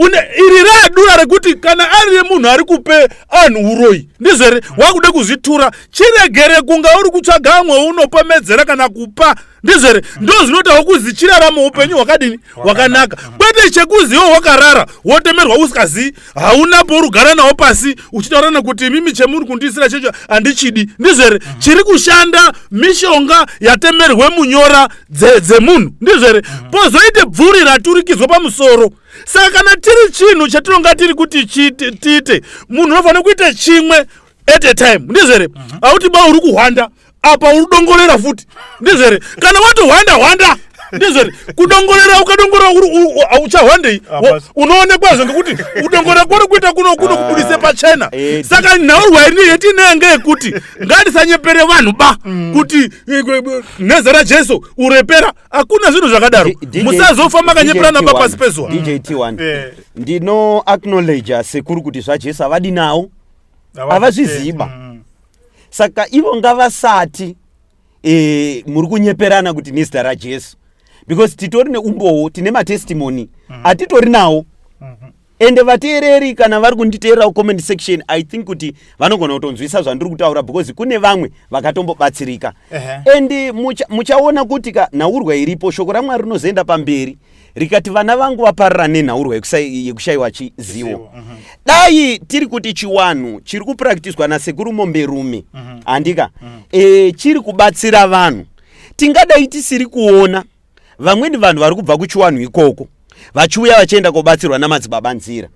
iri radura rekuti kana ari remunhu ari kupe anhu uroyi ndizvo here hmm. wakude kuzvitura chiregere kunga uri kutsvaga amwe unopomedzera kana kupa ndizvo here hmm. ndo zvinotawo kuzi chirarama upenyu hwakadini hwakanaka kwete chekuziwo wakarara wotemerwa usikazii hauna porugara nawo pasi uchitaura nekuti imimi chemuri kundiisira checho handichidi ndizvo here uh-huh. chiri kushanda mishonga yatemerwe munyora dzemunhu dze ndizvo here uh-huh. pozoite bvuri raturikidzwa pamusoro saka kana tiri chinhu chatinonga tiri kuti tiite munhu unofanira kuita chimwe at a time ndizvo here uh-huh. hauti ba uri kuhwanda apa uri dongorera futi ndizvere kana watohwanda hwanda ndizvere kudongorera ukadongorera uchahwandei unoonekwazve ngekuti kudongorera kwari kuita kuno kuno kubudise ah, pachena eh, saka nhau rwairi yetinenge yekuti ngatisanyepere vanhu ba mm. kuti eh, eh, neza rajesu urepera hakuna zvinhu zvakadaro musazofa makanyeperana ba pasi pezuva ndino acknowledge sekuru kuti zvajesu havadi nawo havazviziva mm. saka ivo ngavasati e, muri kunyeperana kuti nezita rajesu because titori neumbowo tine matestimony mm. atitori nawo mhm. ende vateereri kana vari kunditeerera comment section i think kuti vanogona kutonzwisa zvandiri kutaura because kune vamwe vakatombobatsirika uh -huh. ende muchaona mucha kuti ka nhaurwa iripo shoko ramwari rinozoenda pamberi rikati vana vangu vaparira nenhaurwa yekushaiwa chizivo mhm. dai tiri kuti chiwanhu chiri kupraktiswa nasekuru momberume mhm. handika mhm. eh, chiri kubatsira vanhu tingadai tisiri kuona vamweni vanhu vari kubva kuchiwanhu ikoko vachiuya vachienda kobatsirwa namadzibaba nzira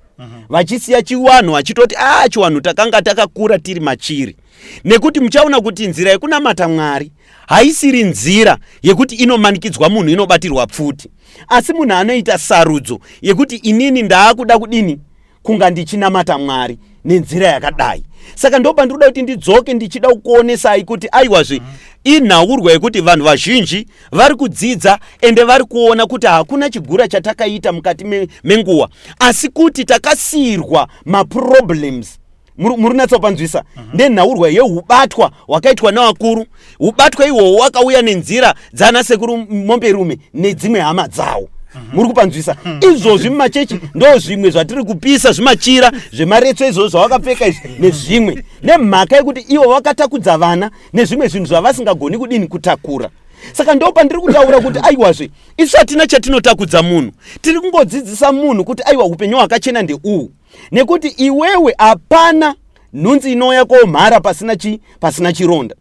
vachisiya chiwanhu vachitoti a ah, chiwanhu takanga takakura tiri machiri nekuti muchaona kuti nzira yekunamata mwari haisiri nzira yekuti inomanikidzwa munhu inobatirwa pfuti asi munhu anoita sarudzo yekuti inini ndaakuda kudini kunga ndichinamata mwari nenzira yakadai saka ndopa ndiri kuda kuti ndidzoke ndichida kukuonesai kuti aiwazve mm -hmm inhaurwa yekuti vanhu vazhinji vari kudzidza ende vari kuona kuti hakuna chigura chatakaita mukati menguva asi kuti takasiyirwa maproblems muri natsa kupanzwisa uh -huh. nenhaurwa yeubatwa hwakaitwa navakuru ubatwa ihwohwo wakauya nenzira dzaana sekuru momberume nedzimwe hama dzawo uh -huh. muri kupanzwisa uh mhm. -huh. izvozvi mumachechi ndo zvimwe zvatiri kupisa zvimachira zvemaretso izvozvo zvavakapfeka izvi mhm. nezvimwe nemhaka yekuti ivo vakatakudza vana nezvimwe zvinhu zvavasingagoni kudini kutakura saka ndo pandiri kutaura kuti aiwazve isu hatina chatinotakudza munhu tiri kungodzidzisa munhu kuti aiwa upenyu hwakachena ndeuhu nekuti iwewe hapana nhunzi inouya komhara pasina chi pasina chironda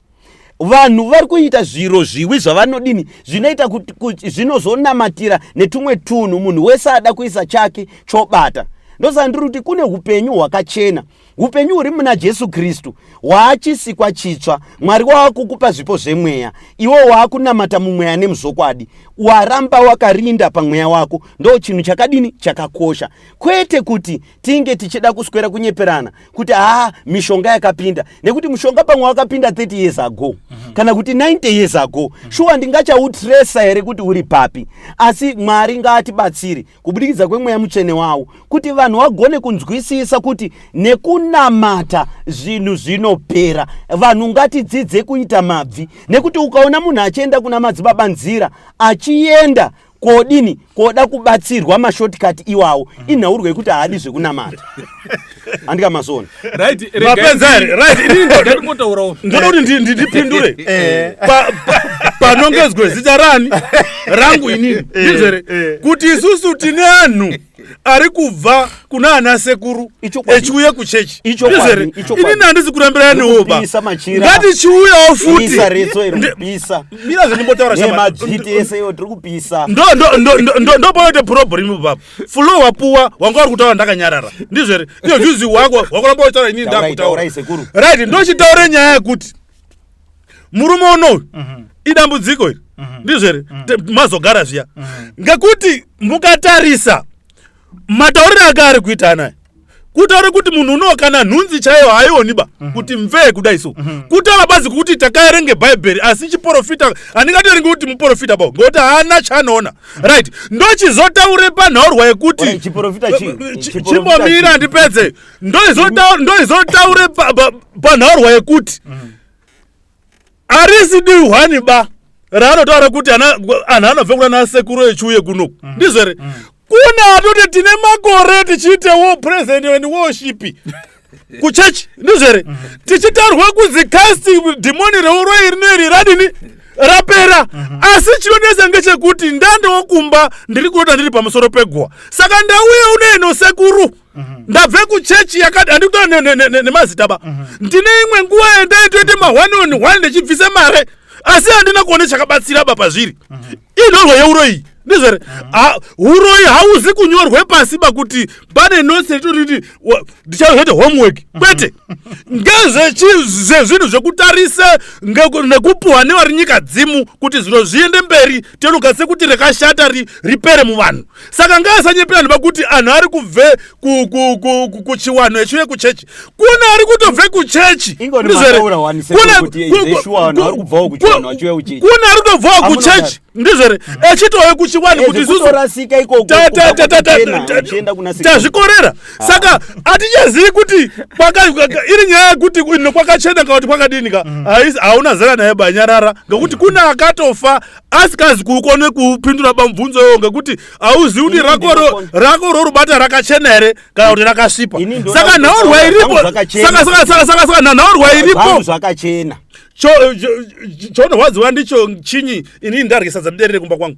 vanhu vari kuita zviro zviwi zvavanodini zvinoita kuti zvinozonamatira netumwe tunhu munhu wese ada kuisa chake chobata ndosaka ndiri kuti kune upenyu hwakachena upenyu huri muna jesu kristu hwaachisikwa chitsva mwari waakukupa zvipo zvemweya iwo waakunamata mumweya nemuzvokwadi waramba wakarinda pamweya wako ndo chinhu chakadini chakakosha kwete kuti tinge tichida kuswera kunyeperana kuti haa mishonga yakapinda nekuti mushonga pamwe wakapinda 30 years ago mm -hmm. kana kuti 90 years ago mm -hmm. shuwa ndingachautresa here kuti uri papi asi mwari ngaatibatsiri kubudikidza kwemweya mutsvene wawo kuti vanhu vagone kunzwisisa kuti nekunamata zvinhu zvinopera vanhu ngatidzidze kuita mabvi nekuti ukaona munhu achienda kuna madzibaba nzira achienda kodini koda kubatsirwa mashortcut iwawo mm. inhaurwa yekuti haadi zvekunamata handika mazona ndoda kuti ndipindure eh. panongezwe zita rani rangu inini eh, ndizvere eh. kuti isusu tine anhu ari kubva kuna ana sekuru echiuya kuchechi izere ini nandisi kurambira nioba ngatichiuyawo futindopanoite problem baba flo wapuwa wanga wari kutaura ndakanyarara ndizvere iyo vhuzi wako wakuramba uchitaura inini ndakutaura right ndochitaure nyaya yekuti murume unoyu mhm. idambudziko iri mhm. ndizvo here mhm. mazogara zviya ngekuti mukatarisa matauriro ake ari kuita anaya kutaura kuti munhu unowo kana nhunzi chaiyo haioniba mhm. kuti mvee kudai so mhm. kutaura bazi kuti takaerenge bhaibheri asi chiporofita handingatorenge kuti muporofita bao ngokuti haana chaanoona mhm. right ndochizotaure panhaurwa yekuti chimbomira ndipedze ndoizotaure panhaurwa yekuti mm. arisi dihwani ba raanotaura kuti anhu anobve kuna nasekuru echiuye kuno mm. ndizvo here mm. kune atoti tine makore tichiite wo president and worship kuchechi ndizvo here tichitarwa kunzi casting dhimoni reuroi rino iri radini rapera mhm. asi chinonesa ngechekuti ndandowo kumba ndiri kunota ndiri pamusoro peguwa saka ndauye unoenosekuru Mhm. ndabve kuchechi yakati handikuta nemazita ba mhm. ndine imwe nguva yandaitoite mahwani on hwani ndichibvisa mare asi handina kuone chakabatsira ba pazviri mhm. inhorwa yeuro iyi ndizvere uroyi hauzi kunyorwe pasi bakuti pane notes ritorii ndichazoite homework kwete ngezvezvinhu zvekutarisa nekupuhwa nevari nyika dzimu kuti zviro zviende mberi tinokasise kuti rekashata ripere muvanhu saka ngaasanyepera ndoba kuti anhu ari kubve kuchiwanhu echiuye kuchechi kune ari kutobve kuchechi kune ari kutobvawo kuchechi ndizvere mm. echitove kuchiwani eh, kuti tazvikorera ah. saka atichazivi kuti iri nyaya yekuti ino kwakachena kana kuti kwakadini ka mm. hauna zera naye banyarara ngekuti mm. kune akatofa asikazi kukone kupindura pamubvunzo iwoyo ngekuti hauzivi kuti rako rorubata rakachena here kana kuti rakasvipa saka nhaurwa iripo saka nhaurwa iripo zvakachena chonorwadziwa ndicho chinyi inini ndarye sadza ndiderere kumba kwangu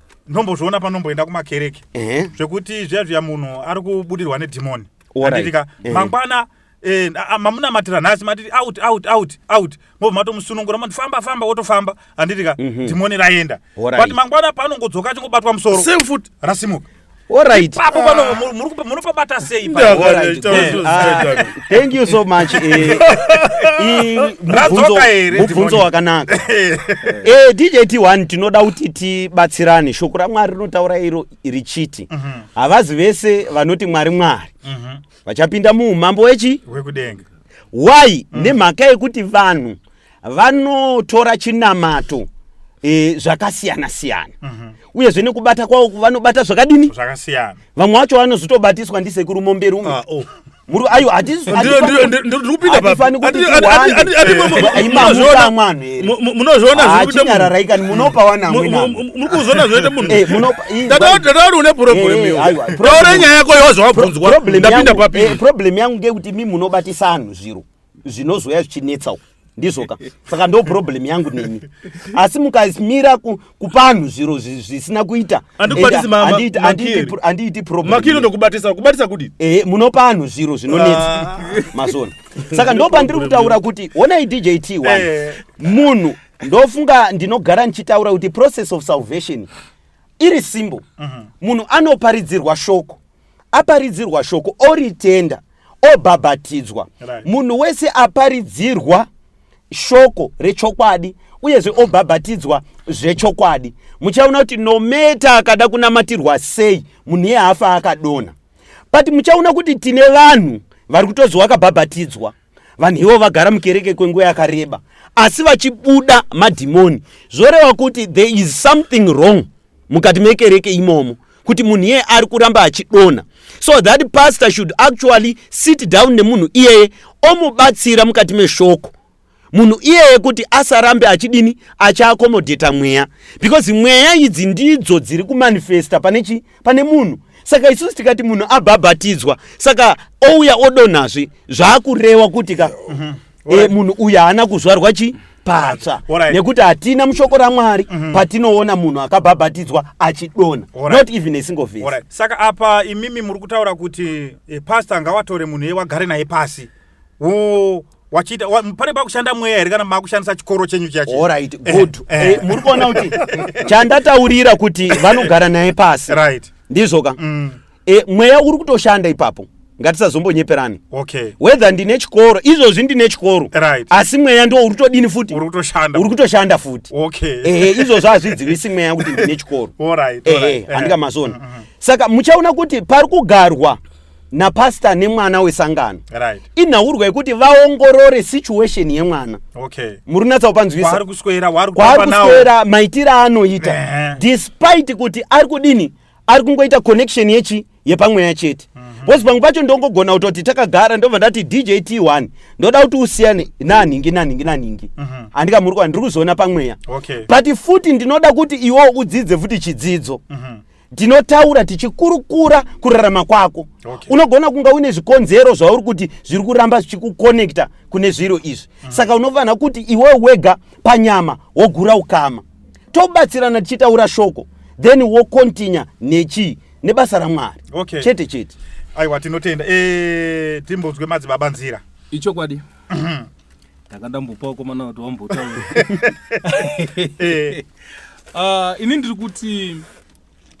ndombozviona panomboenda kumakereke eh. zvekuti zviya zviya munhu ari kubudirwa nedhimoni anditika eh. mangwana eh, mamunamatira nhasi matiti out out out out mobva matomusunungura mati famba famba wotofamba anditika mhm. dhimoni raenda but mangwana paanongodzoka achingobatwa musoro rasimuka Alright. Ipapo pano mu- muri kupa- munopabata sei Ndio, ipapo? Alright, ndio, good. ndio. Ah, thank you so much eh, i- mubvunzo- Radzoka here, mubvunzo Dimoni? wakanaka eh, djt one tinoda kuti tibatsirane shoko ramwari rinotaura iro richiti havazi vese vanoti mwari mwari Mhm. vachapinda muumambo wechi Wekudenga. why nemhaka yekuti vanhu vanotora chinamato e, zvakasiyana siyana mm -hmm. uyezve nekubata kwavo vanobata zvakadini zvakasiyana vamwe vacho vanozotobatiswa ndisekuru momberi umwe ah, oh. muru ayo hatifanikuiwaaimamukamanuachinyararaikani munopa wanamunopaune problem yako yozvawabvunzwa ndapinda papi problem yangu ngeyekuti mi munobatisa anhu zviro zvinozouya zvichinetsa uku ndizvoka saka ndo problem yangu nemi asi mukamira kupanhu zviro zvisina kuita andiiti problemmakino ndokubatisa kubatisa kuti ehe munopa anhu zviro zvinonetsa ah. mazona saka ndo pandiri kutaura kuti onai dj t one eh. munhu ndofunga ndinogara ndichitaura kuti process of salvation iri simbo mhm. munhu anoparidzirwa shoko aparidzirwa shoko oritenda obhabhatidzwa munhu wese aparidzirwa shoko rechokwadi uyezve obhabhatidzwa zvechokwadi muchaona kuti nometa akada kunamatirwa sei munhu iye haafa akadonha but muchaona kuti tine vanhu vari kutozwa akabhabhatidzwa vanhu ivo vagara mukereke kwenguva yakareba asi vachibuda madhimoni zvoreva kuti there is something wrong mukati mekereke imomo kuti munhu iyeye ari kuramba achidonha so that pastor should actually sit down nemunhu iyeye omubatsira mukati meshoko munhu iyeye kuti asarambe achidini achiakomodheta mweya because mweya idzi ndidzo dziri kumanifesta pane chii pane munhu saka isusu tikati munhu abhabhatidzwa saka ouya odonhazve zvaakurewa kuti ka mm -hmm. e, eh, munhu uyu haana kuzvarwa chi patsva right. nekuti hatina mushoko ramwari mm -hmm. patinoona munhu akabhabhatidzwa achidona right. not even a single face right. saka apa imimi muri kutaura kuti e, eh, pasta ngawatore munhu eye wagare naye pasi wo wachiita pane pakushanda mweya here kana makushandisa chikoro chenyu chachiorit eh, good eh. eh, muri kuona kuti chandataurira kuti vanogara naye pasi right ndizvoka mm. e, mweya uri kutoshanda ipapo ngatisazombonyeperani okay. whether ndine chikoro izvozvi ndine chikoro right. asi mweya ndo uri todini futi uri kutoshanda futi okay. ehe izvozvo hazvidzivisi mweya kuti ndine chikoro ehe handika masoni mm-hmm. saka muchaona kuti pari kugarwa napastor nemwana wesangano right. inhaurwa yekuti vaongorore situation yemwana okay. muri kunatsa kupanzwisakwaari kuswera maitiro aanoita uh -huh. despite kuti ari kudini ari kungoita connection yechi yepamweya chete mm -hmm. bcause pamwe pacho ndongogona kutoti takagara ndobva ndati dj t one ndoda kuti usiyane nanhingi nanhingi nanhingi mm -hmm. andikamuri kwa ndiri kuzoona pamweya okay. but futi ndinoda kuti iwo udzidze futi chidzidzo mm -hmm ndinotaura tichikurukura kurarama kwako okay. unogona kunga uine zvikonzero zvauri kuti zviri kuramba zvichikukonekta kune zviro izvi mm. saka unofanira kuti iwe wega panyama wogura ukama tobatsirana tichitaura shoko then wokontinya nechii nebasa ramwari okay. chete chete aiwa tinotenda e, timbonzwe madzibaba nzira ichokwadi ndanga ndambopawo komana kuti wambotaura eh. ah, ini ndiri kuti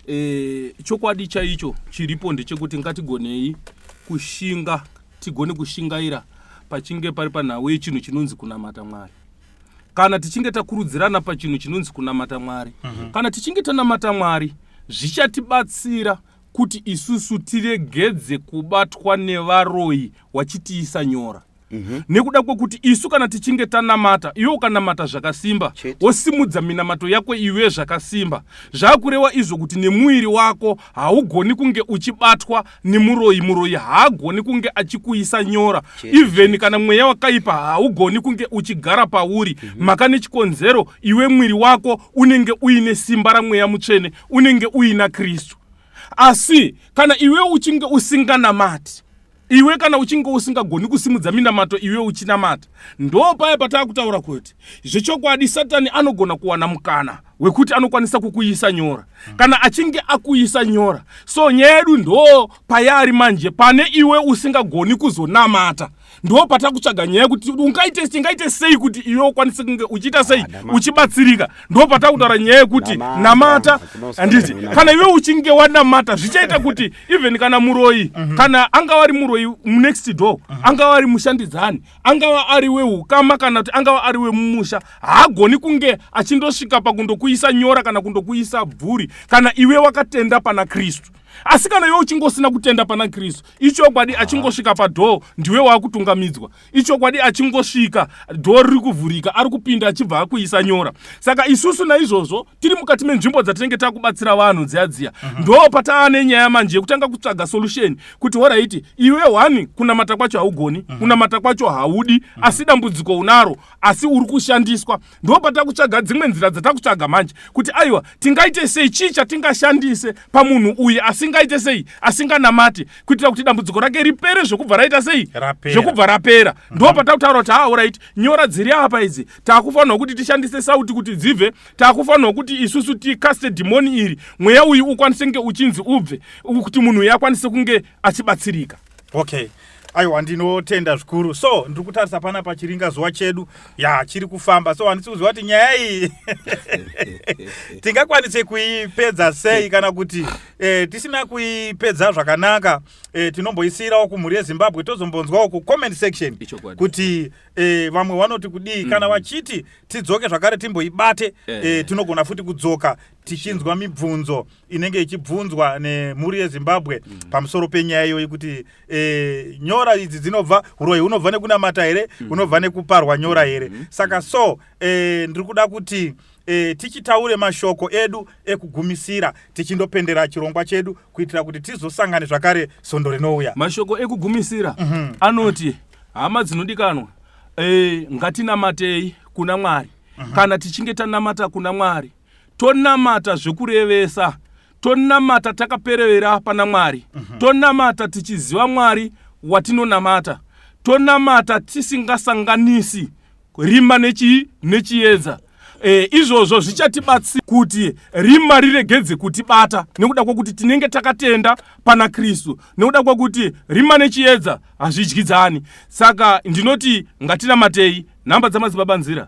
eh, chokwadi chaicho chiripo ndechekuti ngatigonei kushinga tigone kushingaira pachinge pari panhau yechinhu chinonzi kunamata mwari kana tichinge takurudzirana pachinhu chinonzi kunamata mwari mm -hmm. kana tichinge tanamata mwari zvichatibatsira kuti isusu tiregedze kubatwa nevaroyi wachitiisa nyora Mhm. nekuda kwekuti isu kana tichinge tanamata iwe ukanamata zvakasimba Chete. wosimudza minamato yako iwe zvakasimba zvakurewa izvo kuti nemuviri wako haugoni kunge uchibatwa nemuroyi muroyi haagoni kunge achikuisa nyora Chete, even kana mweya wakaipa haugoni kunge uchigara pauri maka nechikonzero iwe mwiri wako unenge uine simba ramweya mutsvene unenge uina kristu asi kana iwe uchinge usinganamati Iwe kana uchinge usingagoni kusimudza minamato iwe uchinamata, ndoo paya pataa kutaura kuti zvechokwadi Satani anogona kuwana mukana wekuti anokwanisa kukuisa nyora. Kana achinge akuisa nyora, so nyaya yedu ndoo payaari manje, pane iwe usingagoni kuzonamata ndoo patakutsvaga nyaya yekuti ungaite tingaite sei kuti iwe ukwanise kunge uchiita sei ah, uchibatsirika ndo patakutaura nyaya yekuti namata handiti kana iwe uchinge wanamata zvichaita kuti even kana muroyi mhm. kana angava ari muroyi munext door mhm. angava ari mushandidzani angava ari weukama kana kuti angava ari wemumusha haagoni kunge achindosvika pakundokuisa nyora kana kundokuisa bvuri kana iwe wakatenda pana kristu asi kana iwe uchingosina kutenda pana kristu ichokwadi achingosvika padhoo ndiwe waakutungamidzwa ichokwadi achingosvika dhoo riri kuvhurika ari kupinda achibva akuisa nyora saka isusu naizvozvo tiri mukati menzvimbo dzatinenge takubatsira vanhu dziya dziya mhm. ndo pataa nenyaya manje yekutanga kutsvaga solution kuti horaiti iwe hwani kunamata kwacho haugoni mhm. kunamata kwacho haudi mhm. asi dambudziko unaro asi uri kushandiswa ndo patakutsvaga dzimwe nzira dzatakutsvaga manje kuti aiwa tingaite sei chii chatingashandise pamunhu uyu asingaite sei asinganamate kuitira kuti dambudziko rake ripere zvekubva raita sei zvekubva rapera uh -huh. ndo mhm. patakutaura kuti haa orit nyora dziri apa idzi takufanirwa kuti tishandise sauti kuti dzibve takufanirwa kuti isusu tikaste dhimoni iri mweya uyu ukwanise kunge uchinzi ubve kuti munhu uyu akwanise kunge achibatsirika okay aiwa ndinotenda zvikuru so ndiri kutarisa pana pachiringa zuva chedu ya chiri kufamba so handisi kuziva kuti nyaya iyi tingakwanise kuipedza sei kana kuti e, tisina kuipedza zvakanaka e, tinomboisiyirawo kumhuri yezimbabwe tozombonzwawo kucomment section kuti e, vamwe vanoti kudii mm -hmm. kana mm-hmm. vachiti tidzoke zvakare timboibate e, tinogona futi kudzoka tichinzwa mibvunzo inenge ichibvunzwa nemhuri yezimbabwe mm. pamusoro penyaya iyoyi kuti e, nyora idzi dzinobva uroyi hunobva nekunamata here mm. hunobva mm. nekuparwa nyora here mm. saka so e, ndiri kuda kuti e, tichitaure mashoko edu ekugumisira tichindopendera chirongwa chedu kuitira kuti tizosangane zvakare sondo rinouya mashoko ekugumisira mm -hmm. anoti hama dzinodikanwa e, ngatinamatei kuna mwari mm -hmm. kana tichinge tanamata kuna mwari tonamata zvekurevesa tonamata takaperevera pana mwari mm -hmm. tonamata tichiziva mwari watinonamata tonamata tisingasanganisi rima nechii nechiedza e, izvozvo zvichatibatsira kuti rima riregedze kutibata nekuda kwekuti tinenge takatenda pana kristu nekuda kwekuti rima nechiedza hazvidyidzani saka ndinoti ngatinamatei nhamba dzamadzibaba nzira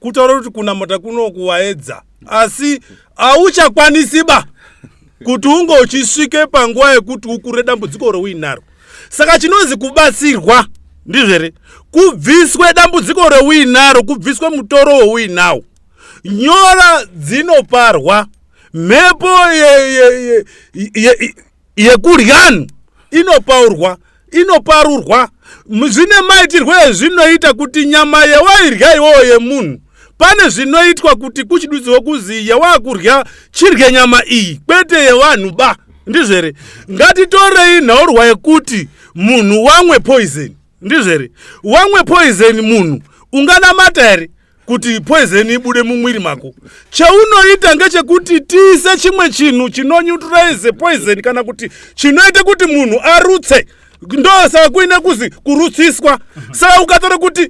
kutaura kuti kunamata kuno kuwaedza asi hauchakwanisi ba kuti unge uchisvike panguva yekuti ukure dambudziko reuinaro saka chinonzi kubatsirwa ndizvo here kubviswe dambudziko reuinaro kubviswe mutoro weuinawo nyora dzinoparwa mhepo yekudyan inopaurwa inoparurwa zvine maitirwo ezvinoita kuti nyama yewairya iwowo yemunhu pane zvinoitwa kuti kuchidudziwo kuzi yewaakurya chirye nyama iyi kwete yevanhu ba ndizvo here ngatitorei nhaurwa yekuti munhu wamwe poison ndizvo here wamwe poison munhu unganamata here kuti poizeni ibude mumwiri mako chaunoita ngechekuti tiise chimwe chinhu chinonyutraize poizeni kana kuti chinoita kuti munhu arutse ndosaka kuine kuzi kurutsiswa saka ukatora kuti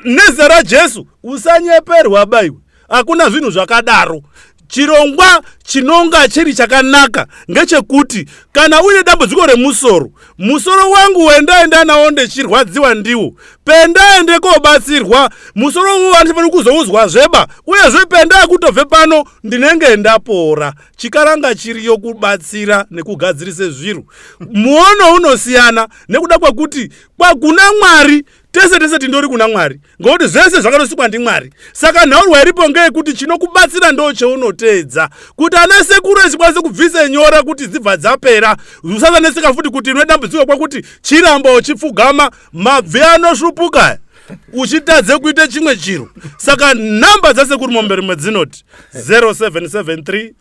nezita rajesu usanyeperwa baiwe hakuna zvinhu zvakadaro Chirongwa chinonga chiri chakanaka ngechekuti kana uine dambudziko remusoro, musoro wangu wendaenda nawo ndechirwadziwa ndiwo, pendaende kobatsirwa musoro uwo vandifanira kuzouzwa zveba uyezve pendaa kutobve pano ndinenge ndapora. Chikaranga chiriyo kubatsira nekugadzirise zviro. Muono unosiyana nekuda kwekuti kwakuna Mwari tese tese tindori kuna mwari ngokuti zvese zvakatosikwa ndimwari saka nhaurwa iripo ngeyekuti chinokubatsira ndo cheunoteedza kuti ana sekuru echikwanise kubvise nyora kuti dzibva dzapera usazaneseka futi kuti ine dambudziko kwakuti chiramba uchipfugama mabvi anosvupuka uchitadze kuita chimwe chiro saka nhamba dzasekuru mombe rimwe dzinoti 0773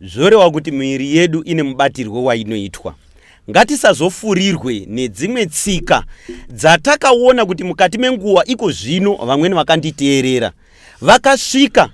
Zvoreva kuti miviri yedu ine mubatirwo wainoitwa. Ngatisazofurirwe nedzimwe tsika dzatakaona kuti mukati menguva iko zvino vamweni vakanditeerera vakasvika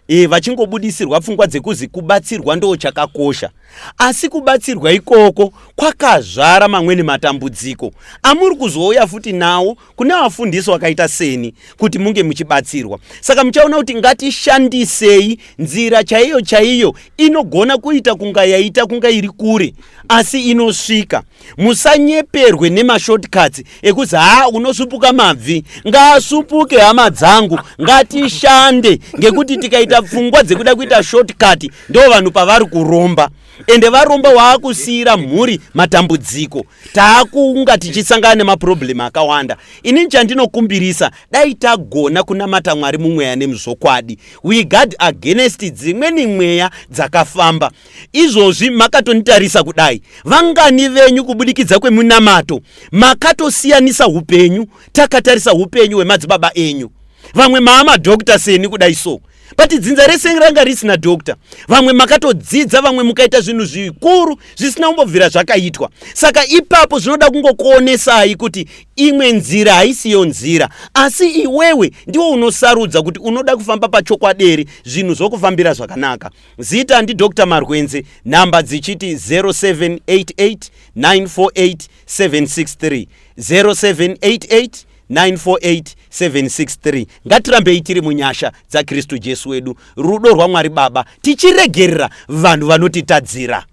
e, vachingobudisirwa pfungwa dzekuzi kubatsirwa ndo chakakosha asi kubatsirwa ikoko kwakazvara mamweni matambudziko amuri kuzouya futi nawo kune vafundisi wakaita seni kuti munge muchibatsirwa saka muchaona kuti ngatishandisei nzira chaiyo chaiyo inogona kuita kunga yaita kunga iri kure asi inosvika musanyeperwe nemashortcuts ekuzi haa unosupuka mabvi ngaasupuke hama dzangu ngatishande ngekuti tikaita pfungwa dzekuda kuita shortcut ndo vanhu pavari kuromba ende varomba waakusiira mhuri matambudziko taakunga tichisangana nemaproblem akawanda inini chandinokumbirisa dai tagona kunamata mwari mumweya nemuzvokwadi we guard against dzimweni mweya dzakafamba izvozvi makatonitarisa kudai vangani venyu kubudikidza kwemunamato makatosiyanisa upenyu takatarisa upenyu hwemadzibaba enyu vamwe maamadokta seni kudai so but dzinza rese ranga risina doctor vamwe makatodzidza vamwe mukaita zvinhu zvikuru zvisina kumbobvira zvakaitwa saka ipapo zvinoda kungokuonesai kuti imwe nzira haisiyo nzira asi iwewe ndiwo unosarudza kuti unoda kufamba pachokwaderi zvinhu zvokufambira zvakanaka zita ndidr marwenzi nhamba dzichiti 0788 948 763 0788 948763 ngatirambei tiri munyasha dzakristu jesu wedu rudo rwamwari baba tichiregerera vanhu vanotitadzira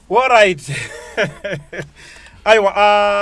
orit aiwa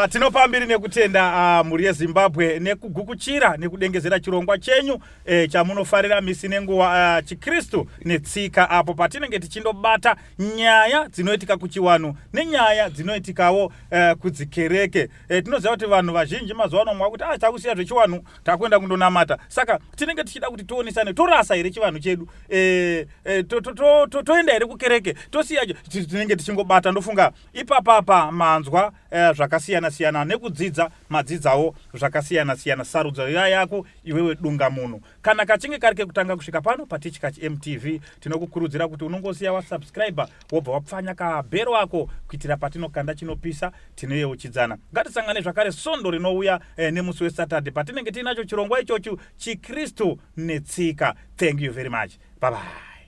uh, tinopa mbiri nekutenda uh, mhuri yezimbabwe nekugukuchira nekudengezera chirongwa chenyu eh, chamunofarira misi nenguva uh, ah, chikristu netsika apo patinenge tichindobata nyaya dzinoitika kuchiwanhu nenyaya dzinoitikawo uh, kudzikereke E, tinoziva kuti vanhu vazhinji mazuva ano mwakuti ah, takusiya zvechivanhu takuenda kundonamata saka tinenge tichida kuti tionesane torasa here chivanhu chedu e, e, toenda to, to, to, here kukereke tosiya tinenge tichingobata ndofunga ipapapa manzwa e, zvakasiyana siyana nekudzidza madzidzawo zvakasiyana siyana sarudzo yayako iwewe dunga munhu kana kachinge kari kekutanga kusvika pano patichkach mtv tinokukurudzira kuti unongosiya wasubscribe wobva wapfanya kabhero ako kuitira patinokanda chinopisa tinoyeuchidzana ngatisangane zvakare svondo rinouya eh, nemusi wesaturday patinenge tiinacho chirongwa ichochu chikristu netsika thank you very much babai